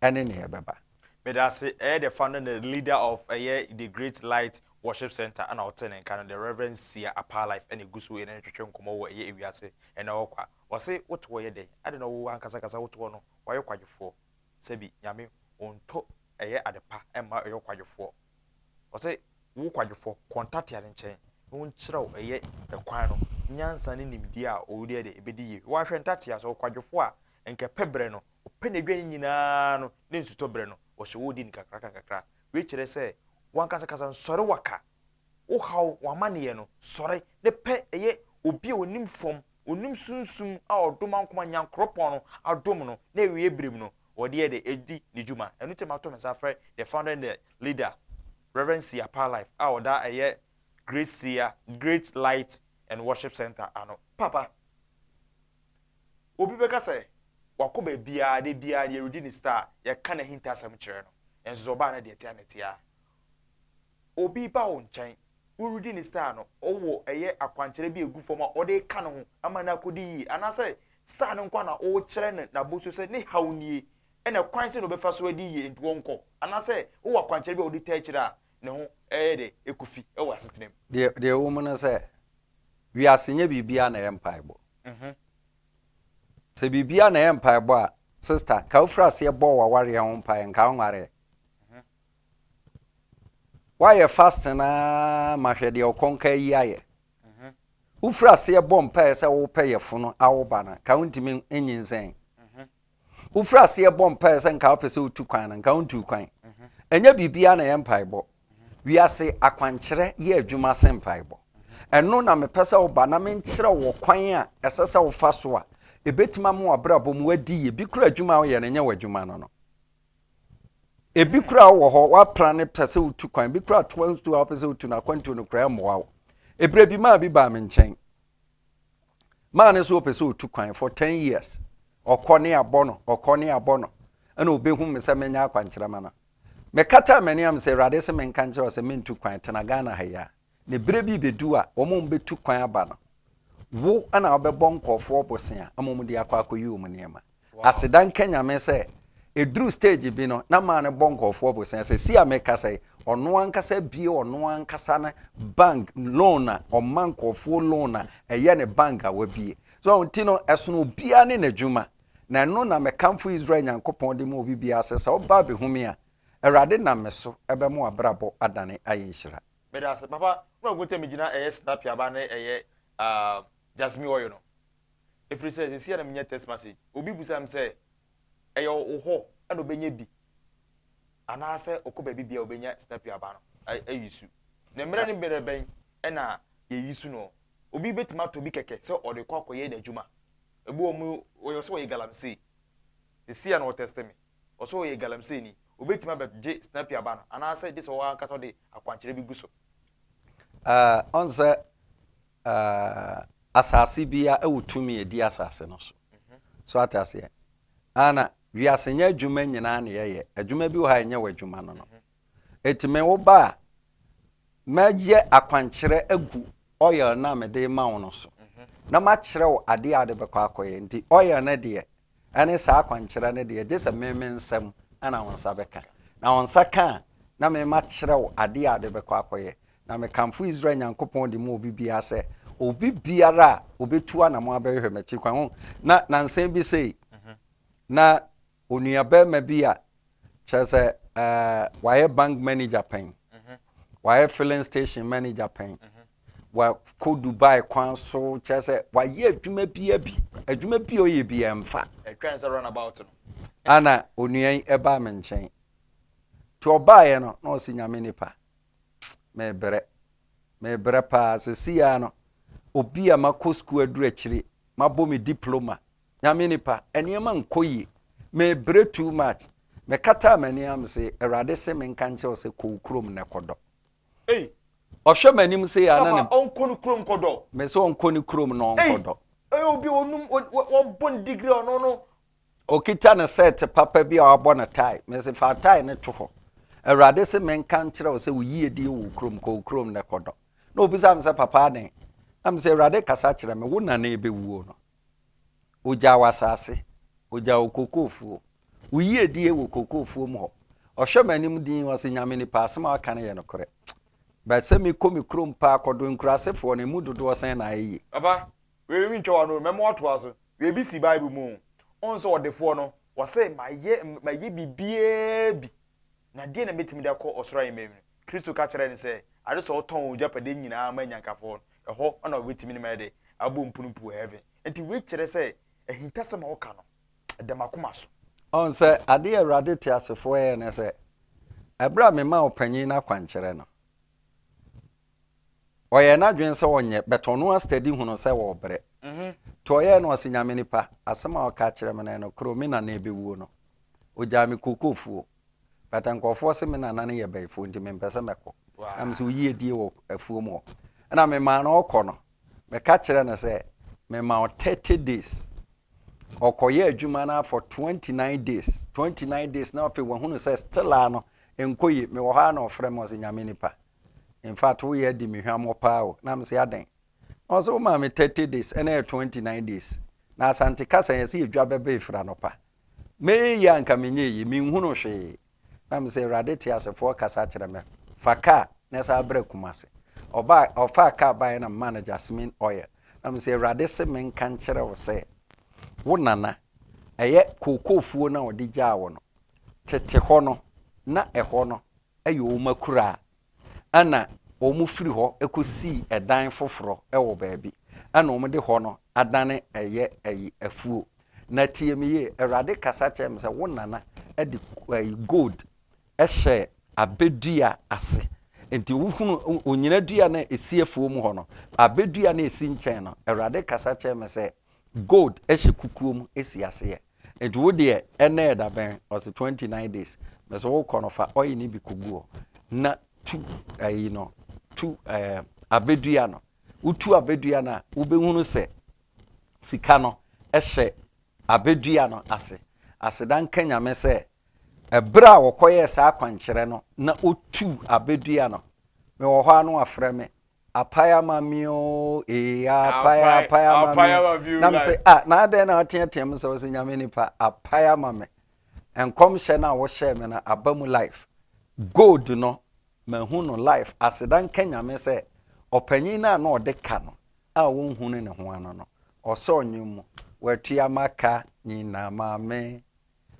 ɛne nea ɛbɛba. Medase ɛyɛ the founder and the leader of ɛyɛ the great light worship center ɛna ɔte ne nka no the reverend Sia Apaa Life ɛna egu so ɛne no twetwe nkɔmɔ wɔ ɛyɛ ewiase ɛna ɔwɔ kwa ɔse wote hɔ yɛ dɛn ade na ɔwɔ ankasa kasa wote hɔ no wayɔ kwadwofoɔ sɛbi nyame onto ɛyɛ ade pa ɛmma ɛyɔ kwadwofoɔ ɔse wo kwadwofɔ kɔntatea ne nkyɛn na ɔnkyerɛw ɛyɛ ɛkwan no nyansa ne nimdeɛ a ɔwɔ di ɛde ɛbɛdi yie wahwɛ ntatea sɛ ɔkwadwofoɔ a nkɛpɛ berɛ no Ɔpɛ n'aduan nyinaa no ne nsutɔberɛ no, ɔhyɛ wo den nkakrankakakra. Wei kyerɛ sɛ w'ankasa kasa no sɔre waka wo haw, w'amanneɛ no sɔre. Ne pɛ yɛ obi a ɔnim fam, ɔnim sunsum a ɔdom ankoma Nyankoropɔn no adom no na awieɛ berɛ mu no ɔdeɛ de adi ne dwuma. Ɛno nti mato me nsa afrɛ the founder and the leader Rev. Sia Paa Life a ɔda ɛyɛ Great Sia, Great Light and Worship Centre ano. Papa! Obi bɛka sɛ, Wakɔ baabiara, da biara deɛ redi ne star, yɛka n'ahintasɛm kyerɛ no, nanso sɛ ɔba a na deɛ ɛte a na ɛte ara. Obi ba wo nkyɛn, woredi ne star no, wowɔ ɛyɛ akwankyerɛ bi a ɛgu fam a ɔde reka ne ho ama no akɔdi yie, anaasɛ star no nko ara na worekyerɛ no n'abɔsuo sɛ ne haw nie, ɛnna kwan sɛn na ɔbɛfa so adi yie nti ɔnkɔ, anaasɛ wowɔ akwankyerɛ bi a wode taa akyire a, ne ho yɛ dɛ ɛkɔ fi wɔ asetena mu. Deɛ deɛ ɛwɔ mu ne sɛ, wiase nyɛ biribiara na ɛyɛ mpaebɔ. Sɛ biribiara na ɛyɛ mpaebɔ a, sista, nka wofiri aseɛ bɔɔ w'awareɛ ho mpaeɛ, nka wonwareɛ. Woayɛ fasting ara ma hwɛ deɛ ɔkɔnkaa yi ayɛ. Wofiri aseɛ bɔ mpaeɛ sɛ wopɛ yɛfono awo ba no, nka wontumi nyinsɛn. Wofiri aseɛ bɔ mpaeɛ sɛ nka wopɛ sɛ wotu kwan no, nka wontuu kwan. Ɛnyɛ biribiara na ɛyɛ mpaebɔ. Wiase akwankyerɛ yɛ adwuma sen mpaebɔ. Ɛno na mepɛ sɛ woba na menkyerɛ wo kwan a ɛsɛ sɛ wofa so a ɛbɛtumi ama w'abrabɔ mu adi yie. Bi kura adwuma a woyɛ no, ɛnyɛ w'adwuma no no. Ebi kura wɔ hɔ, woapra no pɛ sɛ wotu kwan. Bi kura akwantuo a wopɛ sɛ wotu no, akwantuo no kura ɛmmoa wo. Ebire bi maa bi baa me nkyɛn. maa no so ɔpɛ sɛ ɔtu kwan for ten years ɔkɔ ne abɔ no ɔkɔ ne abɔ no ɛna ɔbɛhu me sɛ menya akwankyerɛma no mekata m'ani am sɛ awurade sɛ menka nkyerɛ sɛ mentu kwan tena Ghana ha yi a ne berɛ bi bɛdu a wɔn wɔn bɛtu kwan aba no wo ɛna wobɛbɔ nkɔɔfoɔ bosea ama wɔn de akɔ akɔyi wɔn nneɛma Aseda nka Nyame sɛ ɛduru stage bi no na maa no bɔ nkurɔfoɔ bosea. Seesei a mekasa yi, ɔno ankasa abue ɔno ankasa ne bank loan a ɔma nkurɔfoɔ loan a ɛyɛ ne bank a wabue. So ahu nti no ɛsono obiara ne n'adwuma. Na ɛno na mekamfo Israel Nyankopɔn de ma obi biara sɛ sɛ woba abɛhu me a, Awurade nam me so bɛma w'abrabɔ adane ayɛ nhyira. Medase papa, mahu sɛ megyina ɛyɛ snapia ba ne ɛyɛ ah jasmine oil no Ɛfiri sɛ seesei ara na menya text message. Obi bisaa me sɛ, Ɛyɛ wo hɔ na ɔbɛnya bi anaasɛ ɔkɔ baabibiara a ɔbɛnya Snapio aba no ayi su? Na mmerɛ ne mmerɛ bɛn na yɛyi su no? Obi bɛtumi atɔ bi kɛkɛ sɛ ɔde rekɔ akɔyɛ n'adwuma. Ebi wɔ mu, ɔyɛ sɛ ɔyɛ galamsey. Seesei ara na ɔtɛste me. Ɔsɛ sɛ ɔyɛ galamseyni. Ɔbɛtumi abɛgye Snapio aba no anaasɛ gye sɛ ɔankasa ɔde akwankyerɛ bi gu so? Ɔnsɛ Ah, asase bia ɛwɔ tumi ɛdi asase no so. So ate aseɛ? Ah, na wiase nyɛ adwuma nyinaa na yɛyɛ. Adwuma bi wɔ ha ɛnyɛ w'adwuma no no. Eti me wo ba a, mɛyɛ akwankyerɛ agu oil no a mede ma wo no so. Na makyerɛ wo adeɛ a wode bɛkɔ akɔyɛ. Nti oil no deɛ, Ɛne saa akwankyerɛ no deɛ, gye sɛ me me nsam na wo nsa bɛka. Na wo nsa ka a, na me makyerɛ wo adeɛ a wode bɛkɔ akɔyɛ. Na mekamfo Israel Nyankopɔn de maa obi biara sɛ, obi biara a ɔbɛtu anamɔn abɛhwehwɛ m'akyiri kwan, ho, na nansa bi sei na onuabarima bi a kyerɛ sɛ uh, wayɛ bank manager pɛn wayɛ filling station manager pɛn wakɔ dubai kwan so kyerɛ sɛ wayɛ adwuma bia bi adwuma bi ɔyɛ bi ɛmfa ana onua yi ɛbaa me nkyɛn nti ɔbaeɛ no na ɔsi nyame nipa mebrɛ mebrɛ paa sɛsi ya no obi a makɔ sukuu aduru akyiri mabɔ me diploma Nyame nipa, nneɛma nkɔ yie. Mebrɛ too much. Mekataa m'ani a mese, Awurade se menka nkyerɛ wo sɛ kɔ wo kurom nnɛ kɔdɔ. Ei! Ɔhwɛ m'anim sei a na ne. Papa ɔnkɔ ne kurom nkɔdɔ. Mese ɔnkɔ ne kurom na ɔnkɔdɔ. Ei! Ɔyɛ obi a ɔnum, wabɔ ne degree a ɔno no. Ɔkita ne shirt papa bi a wabɔ ne tie. Mese fa tie no to hɔ. Awurade se menka nkyerɛ wo sɛ wo yiedie wɔ wo kurom, kɔ wo kurom nnɛ kɔdɔ. Na ɔbisa me sɛ, Papa adɛn? Na mese, Awurade kasa kyerɛ me, wo na na ɛbɛwuo no. Ogyaw asase, ogyaw okokofuo. Wo yiedie wɔ okokofuo mu hɔ. Ɔhwɛ m'anim dinn, ɔse Nyame nipa, asem a waka no yɛ nokorɛ. But sɛ me kɔ me kurom paa kɔdɔ nkurasefoɔ no, emu dodoɔ sɛn na ayɛ yie? Papa, wei mentwa w'ano o, mɛma woatoa so. Wei bi si Bible mu o. Wohu sɛ ɔdefoɔ no, ɔse mayɛ, mayɛ biribiara bi, na deɛn na mɛtumi de akɔ ɔsoro ahemman mu? Kristo ka kyerɛɛ no sɛ, ade sɛ ɔtɔn wɔn agyapadeɛ nyinaa ma anyankafoɔ no, ɛhɔ na wɔbɛtumi ne me ayɛdɛ? abɔ mpunu puu heaven. Enti wei kyerɛ sɛ ahintasɛm a ɔka no, ɛda m'akoma so. Ɔn sɛ adeɛ a Awurade teasefoɔ yɛɛ ne sɛ, ɛberɛ a memaa ɔpanyin no akwankyerɛ no, ɔyɛɛ n'adwene sɛ ɔnyɛ, but ɔno a study hunu sɛ ɔɔbrɛ. Nti ɔyɛɛ no ɔse, Nyame nipa, asɛm a ɔka kyerɛ me no yɛ nokorɛ o, me nana ɛbɛwuo no, ɔgyaa me kookoofuo. But nkurɔfoɔ se me nana no yɛ bɛyifoɔ nti mempɛ sɛ mɛkɔ. Na me sɛ wo yie die wɔ afuom hɔ. Ɛna memaa no ɔkɔ no. Meka kyerɛ no sɛ mema wo 30 days. Ɔkɔyɛ adwuma no for 29 days. 29 days na afei wahunu sɛ still a no nkɔ yie. Mewɔ hɔ a na ɔfrɛ me ɔse nyame nipa. In fact wo yɛ di me hwammɔ paa o. Na me sɛ adɛn? Na ɔse wo maa me 30 days ɛna yɛ 29 days. Na Asante kasa yɛse yɛdwa bɛba efira no pa. Meye a anka menyɛ eyi, minhunuu hwee. Na mese, Awurade teasefoɔ kasa kyerɛ me, fa kaa na san bra Kumasi. Ɔbaa, ɔfaa kaa baeɛ na memaa no Jasmine oil. Na mese, Awurade se menka nkyerɛ wo sɛ, wo nana, ɛyɛ kookoofuo no a ɔde gyaa wo no, tete hɔ no, na ɛhɔ no, yɛ wɔn akuraa, ɛnna wɔfiri hɔ kɔsii dan foforɔ wɔ baabi, ɛnna wɔde hɔ no adane ɛyɛ ayi afuo. Na tie me yie, Awurade kasa kyerɛɛ me sɛ wo nana de ayi gold hyɛɛ abɛdua ase. Nti wohunu onyina dua no a ɛsi afuo mu hɔ no, abɛdua no a ɛsi nkyɛn no, Awurade kasa kyerɛɛ me sɛ Gold hyɛ kukuo mu si aseɛ nti wo deɛ ɛnɛ ɛda bɛn ɔsi twenty nine days mɛsɛ wo kɔ no fa ɔyi ne bi kogu hɔ na tu ɛyi no tu ɛɛ abɛdua no wotu abɛdua no a wobɛhunu sɛ sika no hyɛ abɛdua no ase aseda nka nyame sɛ ɛberɛ a wɔkɔyɛɛ saa akwankyerɛ no na otu abɛdua no mewɔ hɔ ano afrɛ me Apae ama me oo ee apae apae ama me oo na me sɛ ah na adɛn na woteatea mu sɛ ɔsɛ nyame nipa apae ama me nkɔmhyɛ no a wohyɛɛ me no aba mu life gold no mahu no life aseda nka nyame sɛ ɔpanyin no a na ɔde ka no a wonhunu ne ho ano no ɔsɔɔ nwom mu watua maka nyina ma me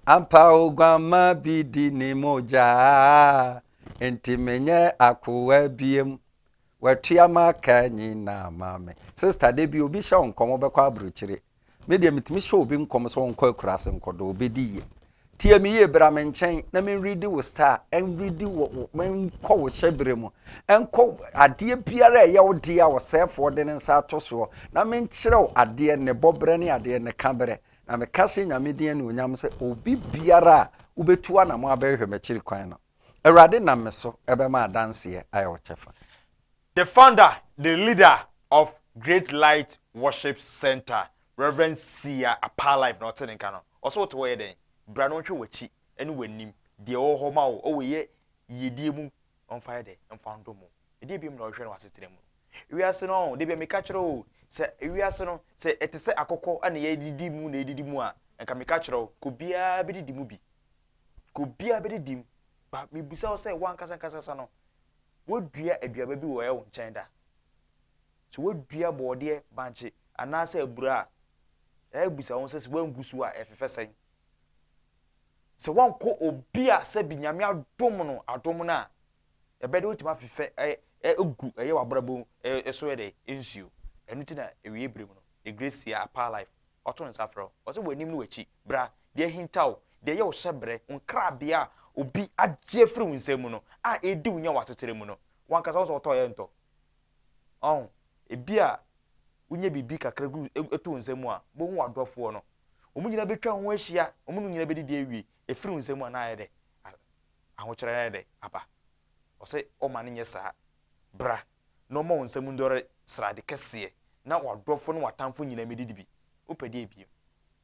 Ampa oguammaa bi di ne mogya, enti menyɛ akoa biom. Watua m'aka nyinaa ma me. Sista, da bi obi hyɛ wo nkɔm wobɛkɔ aburokyire. Me deɛ metumi hyɛ obi nkɔm sɛ ɔnkɔ akuraase nkɔdɔ, ɔbɛdi yie. Tie me yie, bra me nkyɛn na menredi wo star, ɛnredi wo, menkɔ wo hyɛberɛ mu, ɛnkɔ adeɛ biara a ɛyɛ wo dea a ɔsɛefoɔ de ne nsa ato soɔ, na menkyerɛ wo adeɛ, ne bɔberɛ ne adeɛ, ne ka berɛ. Na meka hyɛ Nyame din anuonyam sɛ obi biara a wobetu anamɔ abɛhwehwɛ m'akyiri kwan no, Awurade nam me so bɛma adanseɛ ayɛ wo kyɛfa. The founder, the leader of Great Light Worship Centre, Rev. Sia Apaa Life na ɔte ne nka no. Ɔse wote hɔ yɛ dɛn? Bra na ɔnhwɛ w'akyi ne w'anim. Deɛ ɔwɔ hɔ ma wo wɔ yɛ yiedie mu Ɔmfa yɛ dɛ, mfa ndɔ mu. Ɛdeɛ biom na ɔhwehwɛ no wɔ asetena mu no? Wiase no, da biara meka kyerɛ wo sɛ wiase no, sɛ ɛte sɛ akokɔ na yɛdidi mu na yɛdidi mu a, nka meka kyerɛ wo, nka obiara bɛdidi mu bi. Nka obiara bɛdidi mu. But mebisa wo sɛ, wo ankasa ankasa ankasa no, woadua aduaba bi wɔ wo nkyɛn da? Sɛ woadua bɔɔdeɛ, bankye, anaasɛ abura a, ɛyɛ a mebisa wo sɛ, sɛ woangu so a, ɛfefɛ sɛn? Sɛ woankɔ obi a sɛbi Nyame adom no adom no a, ɛbɛyɛ dɛ wotumi afefɛ agu ɛyɛ w'abrabɔ so yɛ dɛ nsuo. Ɛno nti na awieɛ berɛ mu no, Egresia Apaa Life ɔto nsa frɛ wo, ɔse w'anim ne w'akyi, bra, deɛ ahinta wo, deɛ ɛyɛ wo hyɛbrɛ, wo nkrabea a obi agye afiri wo nsam mu no, a ɛredi wo nya wɔ asetra mu no, wankasa wo sɛ wotɔ yɛ ntɔ. Ɔho, ebia wonya biribi kakra gu egu to wo nsa mu a, bohu w'adɔfoɔ no. Wɔn nyinaa betwa wo ho ahyia, wɔn no nyinaa bedidi awie. Efiri wo nsa mu a, na ayɛ dɛ ahokyerɛ no ayɛ dɛ aba. Ɔse ɔma no nyɛ saa. Bra na ɔma wo nsa mu ndɔre srade kɛseɛ, na w'adɔfoɔ ne w'atamfo nyinaa medidi bi. Wopɛ deɛ bio?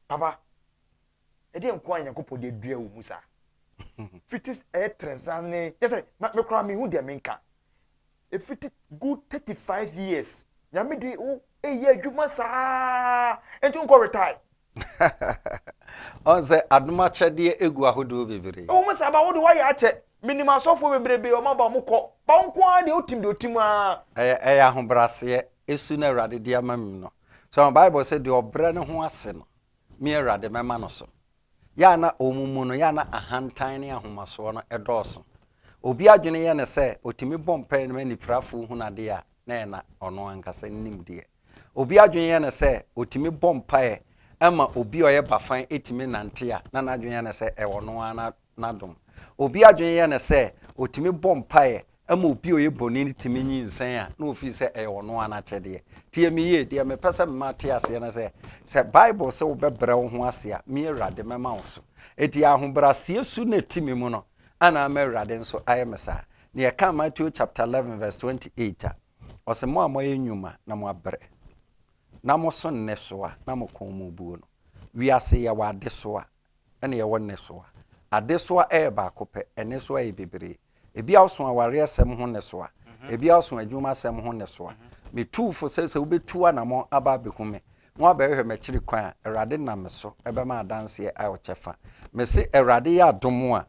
Papa! Ɛdeɛ nkoaa Nyankopɔn de adua wo mu saa? Fiti ɛyɛ trɛsanee kyɛ sɛ me koraa menhu deɛ menka. Ɛfiti good 35 years Nyame de wo ɛyɛ adwuma saa ɛnti wonkɔ retire. Ɔn sɛ adom akyɛdeɛ ɛgu ahodoɔ bebree. Ɛwɔ mu saa ba wode wayɛ akyɛ. Menim asɔfoɔ bebrebe ɔmo aba ɔmo kɔ ba wo nkoaa deɛ wotim deɛ wotim aa. Ɛyɛ ɛyɛ ahobraseɛ ɛsu no Awurade de ama mu no. So ahu Bible sɛ deɛ ɔbrɛ ne ho ase no Me Awurade, mɛma no so. Yɛ a na wɔn mu no, yɛ a na ahantan ne ahomasoɔ no dɔɔso. Obi adwene yɛ no sɛ ɔtumi bɔ mpaeɛ no ma anifirafoɔ hunu adeɛ a, na ɛyɛ na ɔno ankasa nim deɛ. Obi adwene yɛ no sɛ ɔtumi bɔ mpaeɛ ma obi a ɔyɛ bafan tumi nante a, na n'adwene yɛ no sɛ ɛwɔ ɔno ara na n'adom. Obi adwene yɛ no sɛ ɔtumi bɔ mpaeɛ ma obi a ɔyɛ bɔne no tumi nyinsɛn a, na ɔfiri sɛ ɛyɛ ɔno ara n'akyɛdeɛ. Tie me yie, deɛ mepɛ sɛ mema wote aseɛ ne sɛ, sɛ Bible se wobɛbrɛ wo ho ase a, me Awurade mɛma wo so. Enti ahobrɛaseɛ su na ɛte me mu no, ana ama Awurade nso ayɛ me saa? Na yɛka Mateo chapter 11 verse 28 a, ɔse, Mo a moayɛ nnwuma na moabrɛ, na moso nnesoa na mo kɔn mu buo no, wiase yɛ wɔ adesoa na yɛwɔ nnesoa. Adesoa yɛ baako pɛ, nnesoa yɛ bebree. Ebia woso awareɛsɛm ho nnesoa, ebia woso adwumasɛm ho nnesoa. Metuu fo sɛ sɛ wobɛtu anammɔn aba abɛhu me na woabɛhwehwɛ m'akyiri kwan a, Awurade nam me so bɛma adanseɛ a ɛwɔ kyɛfa. Mese Awurade yɛ adom a,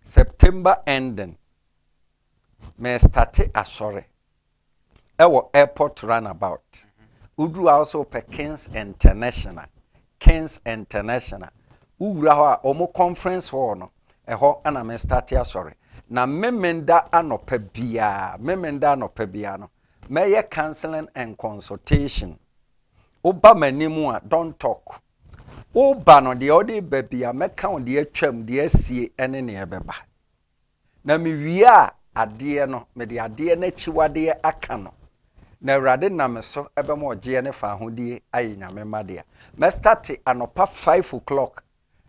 September ending, Me starte asɔre ɛwɔ airport run about woduru hɔ a wosɛ wopɛ kings international kings international wowura hɔ a wɔn conference hall no ɛhɔ ɛna me starte asɔre na memenda anɔpa biara memenda anɔpa biara no mɛyɛ counseling and consultation woba m'anim a don't talk woba no deɛ ɔde ba bi a mɛka wo deɛ atwam deɛ asie ɛne neɛ ɛbɛba Na mewiaa adeɛ no, mede adeɛ no akyiwadeɛ aka no, na Awurade nam me so bɛma ɔgyeɛ ne faahodie ayɛ Nyame mma dea. Mɛ starte anɔpa five o'clock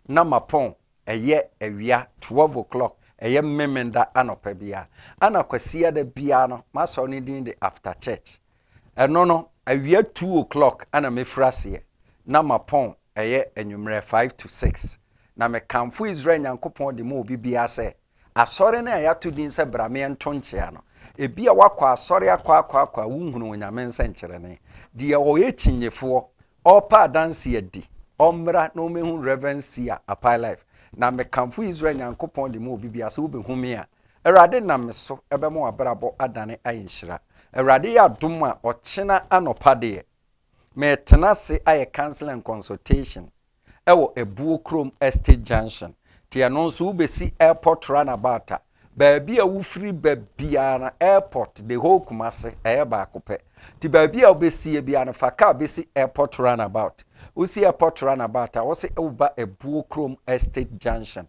na mapɔn ɛyɛ awia twelve o'clock, ɛyɛ Mmemeda anɔpa biara. Ana Kwasiada biara no, m'asɔre no din de After Church. Ɛno no, awia two o'clock na mefiri aseɛ, na mapɔn ɛyɛ anwummerɛ five to six, na mekamfo Israel Nyankopɔn de ma obi biara sɛ, Asɔre no a yɛato din sɛ Bra Me Nto Nkyea no, ebia woakɔ asɔre akɔ akɔ akɔ a wonhunuu Onyame nsɛnkyerɛnne. Deɛ ɔyɛ kyinyefoɔ, ɔrepɛ adanseɛ adi, ɔmmra na ɔmmɛhu Rev. Sia Apae Life. Na mekamfo Israel Nyankopɔn de ma obi biara sɛ wobɛhu me a, Awurade nam me so bɛma w'abrabɔ adane ayɛ nhyira. Awurade yɛ adom a, ɔkyena anɔpa deɛ, meretena ase ayɛ counseling and consultation wɔ Abuo Kurom Estate Junction. Nti ɛno nso wobɛsi airport runabout a, baabi a wofiri ba biara no, airport, the whole Kumasi, ɛyɛ baako pɛ. Nti baabi a wobɛsie biara no, fa car bɛsi airport runabout. Wosi airport runabout a, wose woba Abuo Kurom Estate Junction.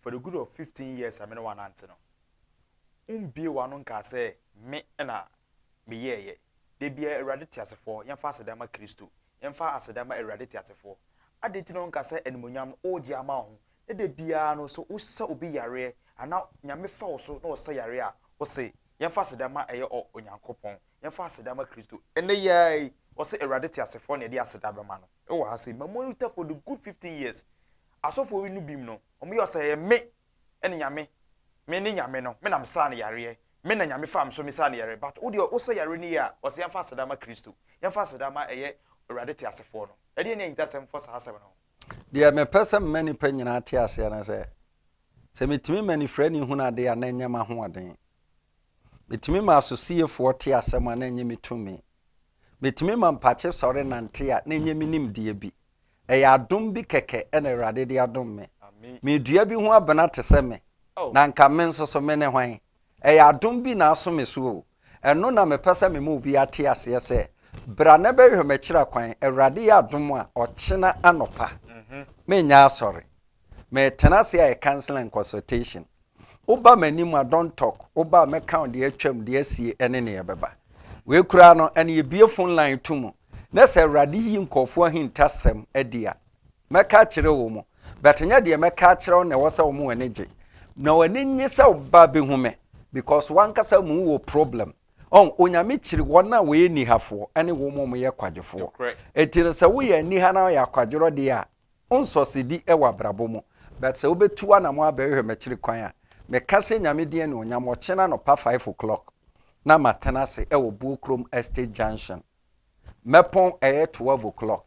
for the good of fifteen years a me ne wo anante no, wombue w'ano nkaa sɛ me na meyɛeɛ. Da biara, Awurade teasefoɔ, yɛmfa aseda ma Kristo. Yɛmfa aseda ma Awurade teasefoɔ. Adɛn nti na wonka sɛ animuonyam no wogye ama wo ho, na da biara no sɛ wosa obi yareɛ anaa Nyame fa wo so na ɔsa yareɛ a, wose yɛmfa aseda ma ɛyɛ ɔ, Onyankopɔn, yɛmfa aseda ma Kristo. Ɛnnɛ yi ara yi, wɔse Awurade teasefoɔ na yɛde aseda bɛma no wɔ ha sei, Mamuaritah for the good fifteen years. Asɔfoɔ wi no bim no, wɔyɛ ɔsɛ ɛyɛ me ne Nyame, me ne Nyame no, me na me saa no yareɛ, me na Nyame faa me so me saa no yareɛ, but wo deɛ wo sa yareɛ no yie a, ɔsɛ yɛmfa aseda ma Kristo, yɛmfa aseda ma ɛyɛ Awurade teasefoɔ no. Ɛdeɛn ne ahintasɛm fɔ saa asɛm no ho? Deɛ mepɛ sɛ mema nnipa nyinaa te aseɛ ne sɛ, sɛ metumi ma anifirani hunu adeɛ a na ɛnyɛ m'ahoɔden, metumi ma asosiefoɔ te asɛm a na ɛnyɛ me tumi, metumi ma mpakye sɔre nante a na ɛnyɛ me nimdeɛ bi, Ɛyɛ adom bi kɛkɛ na Awurade de adom me. Meredua bi ho abena te sɛ me, na anka me nso so mene hwan? Ɛyɛ adom bi na aso me so o. Ɛno na mepɛ sɛ mema obi ate aseɛ sɛ, Bra na bɛhwɛ m'akyiri akwan, Awurade yɛ adom a, ɔkyena anɔpa, menyɛ asɔre. Meretena ase ayɛ counseling and consultation. Woba m'anim a, don't talk. Woba a, mɛka wo deɛ atwam, deɛ asie, ɛne nea ɛbɛba. Wei koraa no, ɛne yɛbue phone line to mu, na sɛ Awurade yi nkurɔfoɔ ahintasɛm adi a, mɛka akyerɛ wɔn. But nyɛ deɛ mɛka akyerɛ wo na ɛwɔ sɛ wɔn ani gye. Na wɔn ani nnye sɛ woba bɛhu me, because w'ankasa mu wɔ problem. Ɔn, Onyame kyiri wɔn a wɔyɛ nihafoɔ ne wɔn a wɔyɛ kwadwofoɔ. Enti no, sɛ woyɛ aniha na woyɛ akwadworɔ deɛ a, Wo nsɔsedi wɔ abrabɔ mu. But sɛ wobɛtu anamɔ abɛhwehwɛ m'akyiri kwan a, meka sɛ Nyame din anuonyam, ɔkyena anɔpa five o'clock na matena ase wɔ Buokrom Estate Junction. Mɛpɔn ɛyɛ twelve o'clock.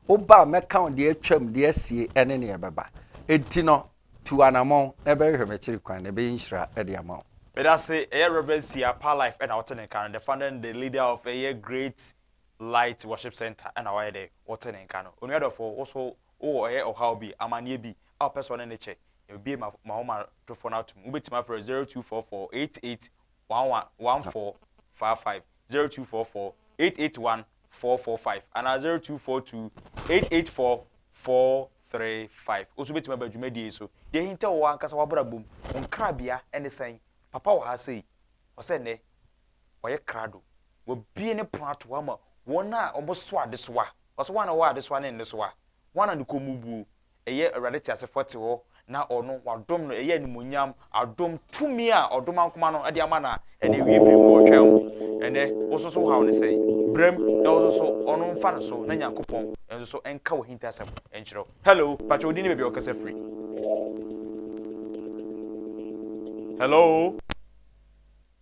Woba a, mɛka wo deɛ atwam, deɛ asie ne nea ɛbɛba. Enti no, tu anamɔ na bɛhwehwɛ m'akyiri kwan, na ɛbɛyɛ nhyira de ama wo. Medase, ɛyɛ Rev. Sia Parlife na ɔte ne nka no, the founder and the leader of ɛyɛ Great Light Worship Centre ɛna wayɛ dɛ ɔte ne nka no. Onua dɔfo, wo so wowɔ ɔyɛ ɔhaw bi, amaneɛ bi a wopɛ sɛ ɔne no kyɛ? Yɛbɛbue m'ahomatorofoɔ no atom. Wobɛtumi afrɛ 0244881145, 0244881445 anaa 0242884435. Wo nso wobɛtumi aba dwumadie yi so. Deɛ ɛhinta wo ankasa w'abrabɔ mu, wo nkrabea ne sɛn? Papa wɔ ha sei. Ɔsɛ nnɛ ɔyɛ krado, wabue ne pono ato hɔ ama wɔn a wɔso adesoa. Ɔse, Hwan na ɔwɔ adesoa ne nnesoa? Hwan na ne kɔn mu buo? Ɛyɛ Awurade teasefoɔ te hɔ, na ɔno, wɔadom no, ɛyɛ animuonyam, adom, tumi a ɔdom ankoma no de ama no a ɛne awie berɛ mu ɔretwɛn wo. Ɛnnɛ, wo nso so wo haw no sɛn? Bra mu na wo nso so ɔno mfa no so na Nyankopɔn nso so nka w'ahintasɛm nkyerɛ wo. Hello, pakyɛ wo din ne baabi a wo kasa firi? Hello?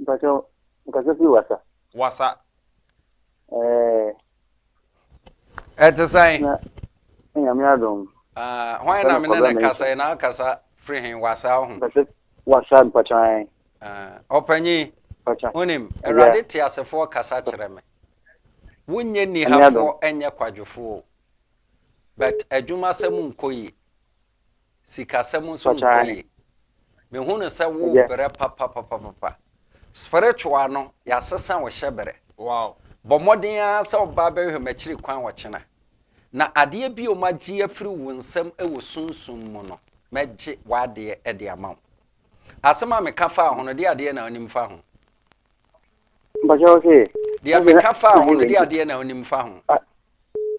Mpakyɛw, nkasa firi wasa. Wasa. Ɛɛ. Ɛte sɛn? Na Nyame adom. Ah, hwan na me ne ne kasa yi na akasa firi he wasa ho? Mpakyɛ wasa mpakyɛ an. Ah, ɔpanyin. Mpakyɛ. Wonim, Awurade te asefoɔ kasa kyerɛ me. Wonyɛ nihafoɔ ɛnyɛ kwadwofoɔ. But adwuma sɛm nkɔ yi. Sikasɛm nso no kɔ yie. Mehu no sɛ wo brɛ papapapapa. Spiritual no, yɛasesa wo hyɛ brɛ. Wow. Bɔ mmɔden ara sɛ woba abɛhwɛ m'akyiri kwan ɔkyena. Na adeɛ bio magye afiri wo nsam wɔ sunsum mu no, mɛgye w'adeɛ de ama wo. Asɛm a meka faa ho no, deɛ adeɛ na wonim fa ho? Mpakyɛw se. Deɛ meka fa ho no, de adeɛ na onim fa ho.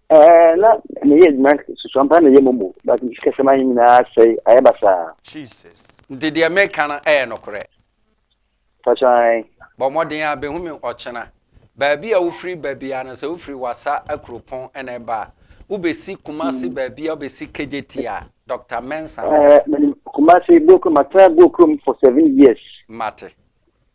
Ɛɛ na meyɛ adwuma susua mpa na ɛyɛ mɔmɔ but sikasɛm ayɛ nyinaa sɛe ayɛ basaa. Jesus. Nti deɛ meka no ɛyɛ nokorɛ. Mpakyɛw ae. Bɔ mmɔden a bɛhu me ɔkyena. Baabi a wofiri ba biara no, sɛ wofiri Wassa akuropɔn na ɛba a, wobɛsi Kumasi baabi a wobɛsi Kejeti a, Dɔkta Mensah. Ɛɛ, menim Kumasi, Buokurom, matena Buokurom for seven years. Mate.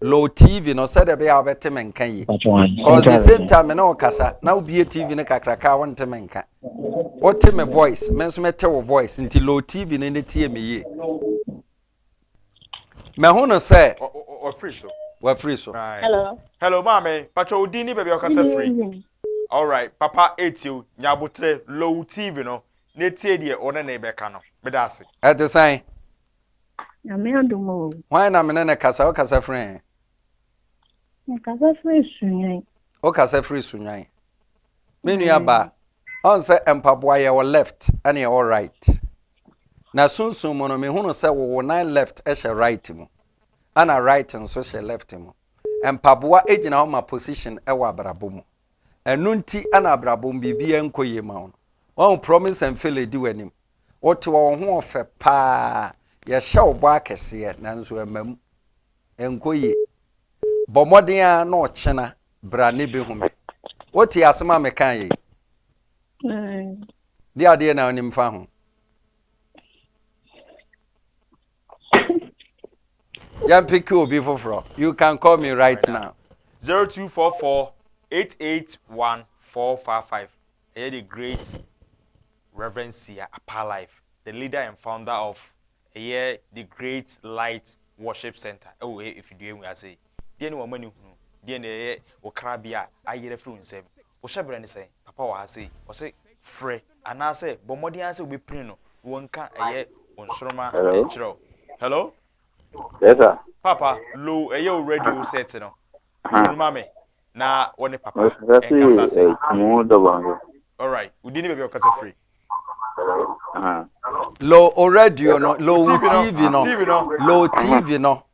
Lo TV no sɛdeɛ ɛbɛyɛ a wobɛte me nka yie cause the same time me ne wo kasa na wobie TV no kakraka a wonte me nka. Wote me voice me nso mete wo voice nti Lo TV no ne tie me yie. Mahu no sɛ. Wafiri so. Wafiri so. Hello. Hello maame patwa wo din ne baabi a wokasa firi. Alright papa etie o nya abotere Lo TV no na etie deɛ ɔne ne bɛka no meda ase. Ɛte sɛn? Nyame adom o. Hwan na me ne no kasa? Wokasa firi he? Mekasa firi Sunwan. Wokasa firi Sunwan. Me nua ba, ɔn sɛ mpaboa yɛwɔ left ɛne yɛwɔ right. Na sunsun mu no mehunu sɛ wowo nan left hyɛ right mu ɛna right nso hyɛ left mu. Mpaboa gyina hɔ ma position wɔ abrabɔ mu. ɛno nti na abrabɔ mu biribiara nkɔ yie ma wo no wahu promise and fail di w'anim wote wɔn ho ɔfɛ paa yɛhyɛ wo bɔ akɛseɛ nanso ɛma mu nkɔ yie bɔ mmɔden a na ɔkyena bra ne bɛhu me wote asɛm a meka yei de adeɛ na wonim fa ho yɛn peke obi foforɔ you can call me right now. zero two four four eight eight one four five five ɛyɛ the great reverend sia apa life the leader and founder of ɛyɛ the great light worship center ɛwɔ efidie mu ase deɛ ne wɔn ani hunu deɛ ne ɛyɛ okrabea ayerɛ firi nsam Wo hyɛberɛ ne sɛn? Papa wɔ ha sei. Ɔse frɛ anaasɛ bɔ mmɔden ara sɛ wobɛpini no na wɔnka ɛyɛ wo nsoroma nkyerɛ wo. Hello? Yes sir. Papa, low ɛyɛ wo radio set no low ma me na wɔ ne papa nkasa se. Alright, wo din ne baabi a wokasa firi. Low o radio no, low TV no, low TV no,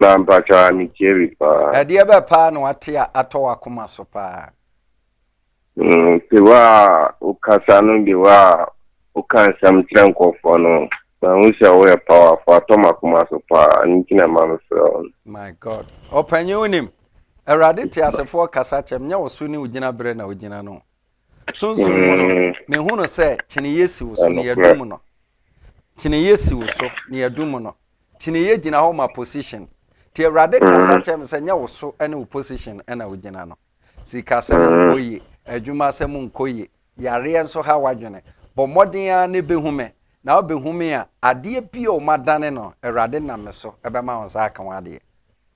Na mpakyɛw a me tie bi paa. Ɛdeɛ bɛ paa na wate a atɔ wakoma so paa. Mm, te wa wokasa no de wa woka nsɛm kyerɛ nkɔfoɔ no mahu sɛ woyɛ powerfo atɔ makoma so paa ne nti na ɛma me frɛ wo no. My God. Ɔpanyin wonim. Awurade te asefoɔ kasa kyɛm nyɛ wo so ne wo gyina berɛ na wogyina no. Sunsum mu no, mehu no sɛ kyineeɛ si wo so na yɛadu mu no. Kyineeɛ si wo so na yɛadu mu no. Kyineeɛ gyina hɔ ma position. Nti Awurade kasa kyerɛ me sɛ nyɛ wo so ne wo position na wogyina no. Sikasɛm nkɔ yie, adwumasɛm nkɔ yie, yareɛ nso ha w'adwene. Bɔ mmɔden ara na bɛhu me. Na wobɛhu me a, adeɛ bi a wɔadane no, Awurade nam me so bɛma wo nsa aka ho adeɛ.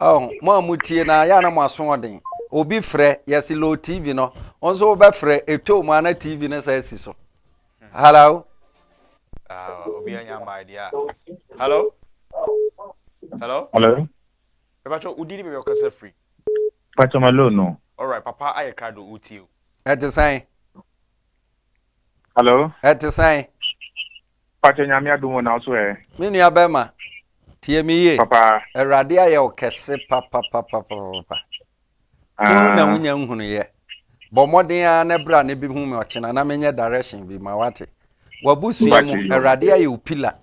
Oh mo a mo tie na yɛ a na mo aso ɔden obi frɛ yɛsi low tv no wɔn nso wɔbɛ frɛ etwa mu ana tv no sɛ esi so hello. Uh, obi anya ama idea hello hello hello ɛbɛtɔ wodi ni bɛbɛ ɔkasa firi. pàtó ma low no. alright papa ayɛ krado o tie o. ɛte sɛn. Hello. Ɛte sɛn? Pakyɛ nyame adom o, na wo so ɛ? Me nua bɛrima, tie me yie. Papa. Awurade ayɛ wo kɛse papapapapapa. Hunu na wonya nhunuiɛ. Bɔ mmɔden ara na bra na bi hu me ɔkyena na menyɛ direction bi ma wate. W'abusua mu, Awurade ayɛ wo pila.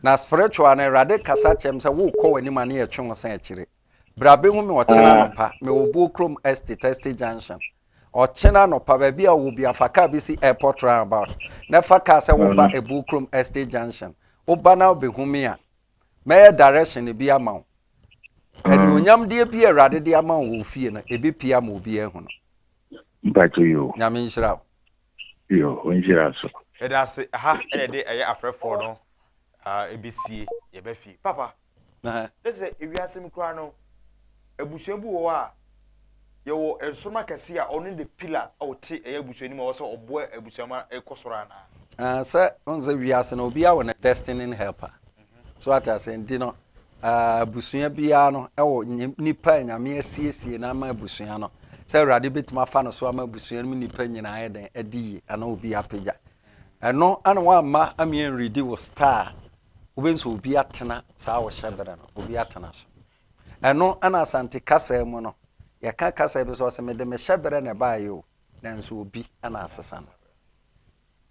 Na spiritual no, Awurade kasa kyɛm sɛ wokɔ w'anim a ne yɛtwe wo san akyire. Bra bɛhu me ɔkyena ah. anɔpa, mewɔ Buo Krom Estate, Estate Junction. Ɔkyena anɔpa, baabi a wɔ bia fa kaa bi si airport roundabout, na fa kaa sɛ woba mm. Buo Krom Estate Junction. Woba na wobɛhu me a, mɛyɛ direction bi ama wo. Mm. Anuonyamdeɛ bi a Awurade de ama wo wɔ fie no, ɛbɛpia ma obiara hu no. Nyame nhyira wo. Yo, ɔnhyira so. Yɛda ase, ɛha na yɛde ɛyɛ afrɛfoɔ no ɛbɛsie, yɛba fie. Papa, ne sɛ ewiase mu koraa no, abusua bi wɔ hɔ a, yɛwɔ nsoroma kɛseɛ a ɔno ne the pillar a ɔte ɛyɛ abusua no mu a ɔwɔ sɛ ɔboa abusua ma ɛkɔ soro anaa? Sɛ, wohu sɛ wiase no, obiara wɔ ne destiny helper. So wate ase? Nti no, ah, abusua biara no ɛwɔ nipa a Nyame asiesie no ama abusua no. Sɛ Awurade bɛtumi afa no so ama abusua no mu nipa nyinaa yɛ dɛn adi yie anaa obi apagya. Ɛno ana woamma ameɛ nredi wɔ star wobɛhu sɛ obi atena saa wɔhyɛ berɛ no, obi atena so. Ɛno ana Asante kasa mu no, yɛka kasa bi sɛ ɔsɛ mede mehyɛ berɛ na ɛbaeɛ o, nanso obi ana asesa no.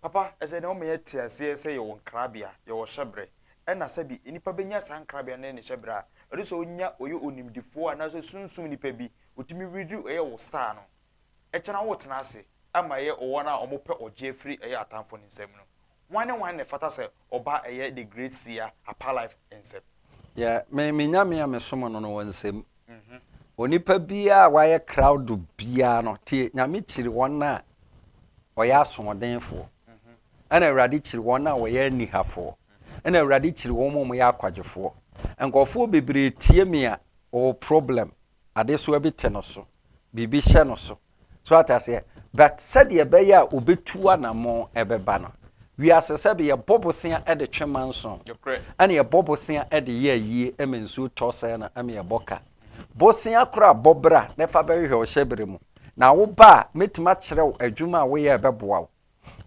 Papa, ɛsɛ na woma yɛte aseɛ sɛ yɛwɔ nkrabea, yɛwɔ hyɛberɛ, ɛna sɛbi nnipa bɛnya saa nkrabea ne ne hyɛberɛ a, ɛsɛ sɛ ɔnya ɔyɛ onimdefoɔ anaasɛ sunsum nnipa bi, ɔtumi ready ɔyɛ wo star no, ɛkyɛ na wotena ase ma ɛyɛ wɔn a wɔpɛ ɔgyeɛ firi ɛyɛ atamfo no nsam no. Hwan ne hwan na ɛfata sɛ ɔba ɛyɛ the great seer Apa Life nsɛm. Yɛ me me Nyame a me som no no wɔ nsɛm. Onipa biaa a wayɛ crowd biaa no tie Nyame kyiri wɔn a ɔyɛ asoɔden foɔ ɛna Awurade kyiri wɔn a ɔyɛ aniha foɔ ɛna Awurade kyiri wɔn a ɔyɛ akwagye foɔ. Nkɔfoɔ bebree tie me a ɔwɔ problem adesoa bi te no so biribi hyɛ no so so ate aseɛ but sɛdeɛ ɛbɛyɛ a ɔbɛtu anammɔn ɛbɛba no wiase sɛ bi yɛbɔ bosea de twe manson ɛne yɛbɔ bosea de yɛ ayie ɛma nsuo tɔ sɛɛ no ɛma yɛbɔ ka bosea kora bɔ bra na ɛfa bɛhwehwɛ ɔhyɛ berɛ mu na woba a mɛtumi akyerɛ wo adwuma a woyɛ ɛbɛboa wo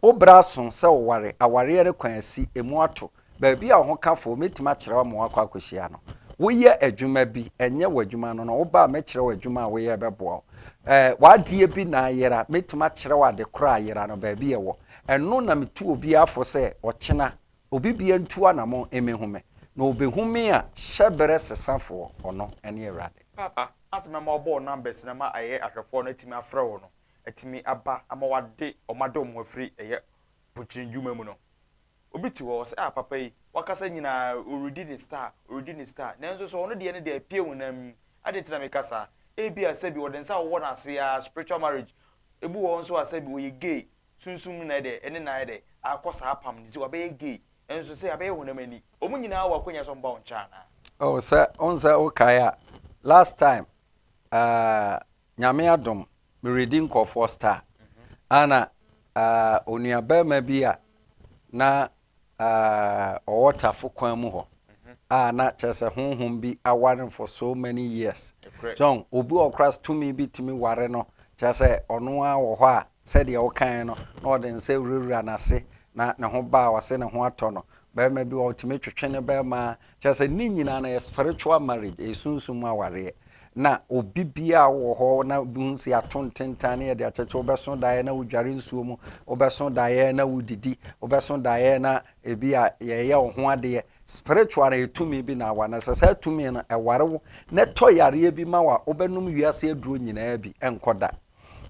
Wo bere aso sɛ woware. Awareɛ no kwan asi, emu ato. Baabi a ɔhokafoɔ mɛtumi akyerɛ wo ama woakɔ akɔhyia no. Woyɛ adwuma bi, ɛnyɛ w'adwuma no na woba a, mɛkyerɛ wo adwuma a woyɛ ɛbɛboa wo. Ɛɛ, w'adeɛ bi na ayera, mɛtumi akyerɛ wo ade korɔ a ayera no, baabi a ɛwɔ. Ɛno na metu obiara fo sɛ, ɔkyena, obi biara ntu anammɔn mmɛhu me. Na ɔbɛhu me a, hyɛberɛ sesafoɔ, ɔno ne Awurade. Papa, afei mɛma wɔabɔ wo numbers no ama ayɛ ahwɛfoɔ no atumi afrɛ wo no. atumi aba ama wɔade wɔn adɔ wɔn afiri ɛyɛ pokyerɛ ndwuma mu no. Obi te hɔ a, ɔse ah papa yi, wakasa nyina ara ɔredi ne star, ɔredi ne star, nanso sɛ ɔno deɛ no deɛ apue honam mu. Adɛn nti na meka saa? Ebia sɛbi ɔde nsa awowɔ n'ase ara, spiritual marriage. Ebi wɔ hɔ nso a sɛbi ɔyɛ gay, sunsum no na ayɛ dɛ, ɛne no ayɛ dɛ, akɔ saa apam no nti wabɛyɛ gay, nanso sɛ abɛyɛ honam ani. Wɔn nyina ara wɔ akwanya sɛ wɔba wo nkyɛn anaa? Oh sɛ, wohu sɛ wokae a, last time, ah. Nyame adom meredi nkorɔfoɔ star ana ahh onua barima bi a na ahh ɔwɔ tafo kwan mu hɔ a na kyerɛ sɛ honhom bi aware no for so many years John obi wɔ hɔ koraa tumi bi tumi ware no kyerɛ sɛ ɔno ara wɔ hɔ a sɛdeɛ wokaeɛ no na ɔde nsa wurawura n'ase na ne ho ba a ɔse ne ho atɔ no barima bi wɔ hɔ ɔtumi twetwe ne barima Kyerɛ sɛ ne nyinaa no ɛyɛ spiritual marriage, ɛyɛ sunsum mu awareɛ. Na obi biara wɔ hɔ na bi hu sɛ yɛato ntentan ne yɛde akyɛkyɛ, wobɛso daeɛ na wodware nsuo mu, wobɛso daeɛ na wodidi, wobɛso daeɛ na ebi a yɛyɛ wo ho adeɛ. Spiritual no ɛyɛ tumi bi na awa na sɛ saa tumi no ɛware wo na ɛtɔ yareɛ bi ma wo a, wobɛnom wiase aduro nyinaa bi ɛnkɔ da.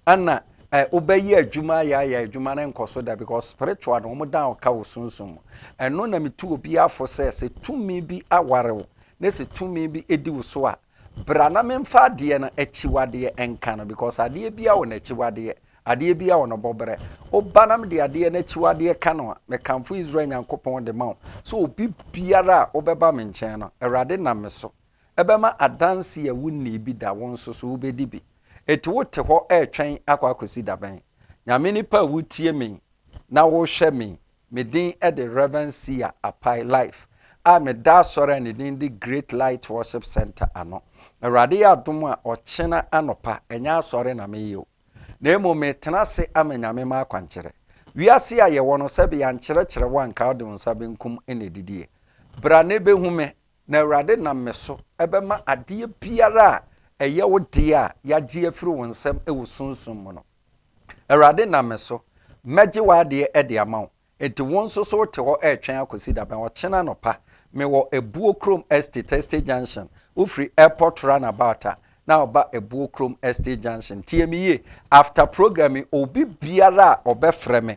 ɛna ɛ wobɛyɛ adwuma ayɛ ayɛ adwuma no nkɔ so da because spiritual no wɔn dan ɔka wɔ sunsun mu ɛno na metu obi afo sɛ sɛ tumi bi aware wo na sɛ tumi bi edi wo so a bra na memfa adeɛ no akyiwadeɛ nka no because adeɛ bi a wɔ n'akyiwadeɛ adeɛ bi a wɔ no bɔbrɛ woba nam de adeɛ no akyiwadeɛ ka no a mekamfo Israel Nyankopɔn de ma wo so obi biara a wobɛba me nkyɛn no awurade nam me so Ɛbɛma adanse a wunnii bi da wo nso so wubedi bi. Enti wote hɔ retwɛn akɔ akosi da bɛn? Nyame nipa a wutie me na wohwɛ me, me din de Rev. Sia Apai Life a meda asɔre a ne din de Great Light Worship Centre ano. Awurade yɛ adom a ɔkyena anɔpa ɛnyɛ asɔre na meyɛ o, na mmom metena ase ama Nyame m'akwankyerɛ. Wiase a yɛwɔ no sɛbe yɛankyerɛkyerɛ wo anka wode wo nsa benkum na edidi ɛ. Bra na ebehu me Na Awurade nam me so bɛma adeɛ biara a ɛyɛ wo deɛ a yɛagye afiri wo nsam wɔ sunsum mu no. Awurade nam me so, mɛgye w'adeɛ de ama wo. Enti wo nso so wote hɔ retwɛn akɔsi da bɛn? Ɔkyena anɔpa, mewɔ Abuo Krom Estate, Estate Junction. Wofiri Airport Runabout a, na woba Abuo Krom Estate Junction. Tie me yie, after program yi, obi biara a ɔbɛfrɛ me,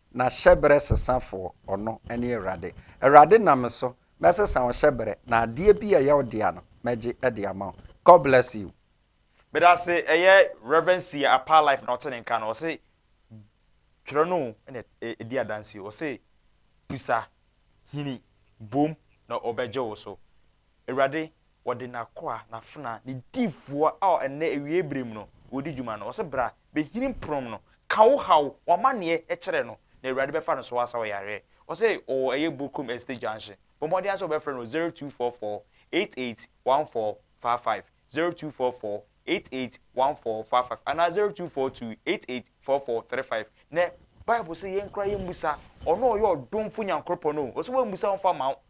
Na hyɛberɛ sesafoɔ, Ɔno ne Awurade. Awurade nam me so, mɛsesa wo hyɛberɛ, na adeɛ bi a ɛyɛ wo dea no, mɛgye de ama wo. God bless you. Medase ɛyɛ Rev Sia Apaa life na ɔte ne nka no ɔse twerɛ no o ɛna ɛdi adanseɛ ɔse bisa hini bom na ɔbɛgye wo so awurade Wɔde n'akoa, n'afenaa, ne difoɔ a ɛnnɛ awiei berɛ mu no wɔredi dwuma no, wɔse bra, bɛhini mporom no, ka wo haw, w'amanneɛ kyerɛ no, na Awurade bɛfa no so asa wo yareɛ. Wɔse ɔwɔ ɛyɛ Bourkoum Estate Junction. Bɔ mmɔden ara sɛ wobɛfrɛ no 0244 881455, 0244 881455, anaa 0242 884435. Nɛ Bible se yɛnkora yɛmmisa, Ɔno a ɔyɛ ɔdomfo Nyankoropɔn no o, ɔse wammusa wamfa amma wo,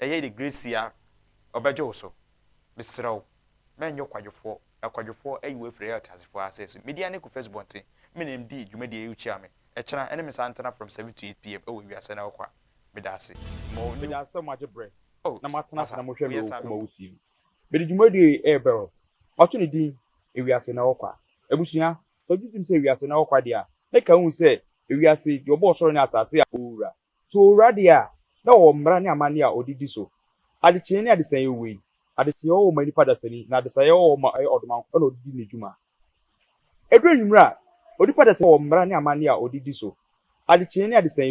Ɛyɛ ne gresia ɔbɛgye wo so. Mesrɛ wo, mɛnyɛ ɔkwadwofoɔ. Akwadwofoɔ ayi wo afiri ɛyɛ ɔteasefoɔ asase so. Media ne Kofi Asubɔnten, me ne no dii dwumadie a ɛyɛ wokyia me, ɛkyena, ɛne me san ntena from seven to eight PM ɛwɔ wiase na ɛwɔkɔ a. Medaase. Ma ɔnni wo. Medaase sɛ mo agye berɛ Oh, na mo atena ase na masa, mo hwɛ me woyɛ wɔ saa Kuma Wu TV. Mede dwumadie yi rebɛwrɔ. Mato ne din Ewiase na ɛwɔkɔ a. Abusua, sɛ wogye tom sɛ ewiase na ɛwɔkɔ a deɛ a, na ɛka wo hu sɛ ewiase, deɛ ɔbɔɔ ɔsoro ne asase a ɔwura. So owura de a, na ɔwɔ mmara ne amanne a ɔde di so? Adekyee ne adesae yɛ wei. Adekyee ɔwɔ hɔ ma nnipa dasani, na adesae ɔwɔ hɔ ma ɛyɛ ɔdoma nko na ɔde di ne dwuma. Ɛduru anwummere a, onipa dasani wɔ mmara ne amanne a ɔde di so. Adekyee ne adesae yɛ.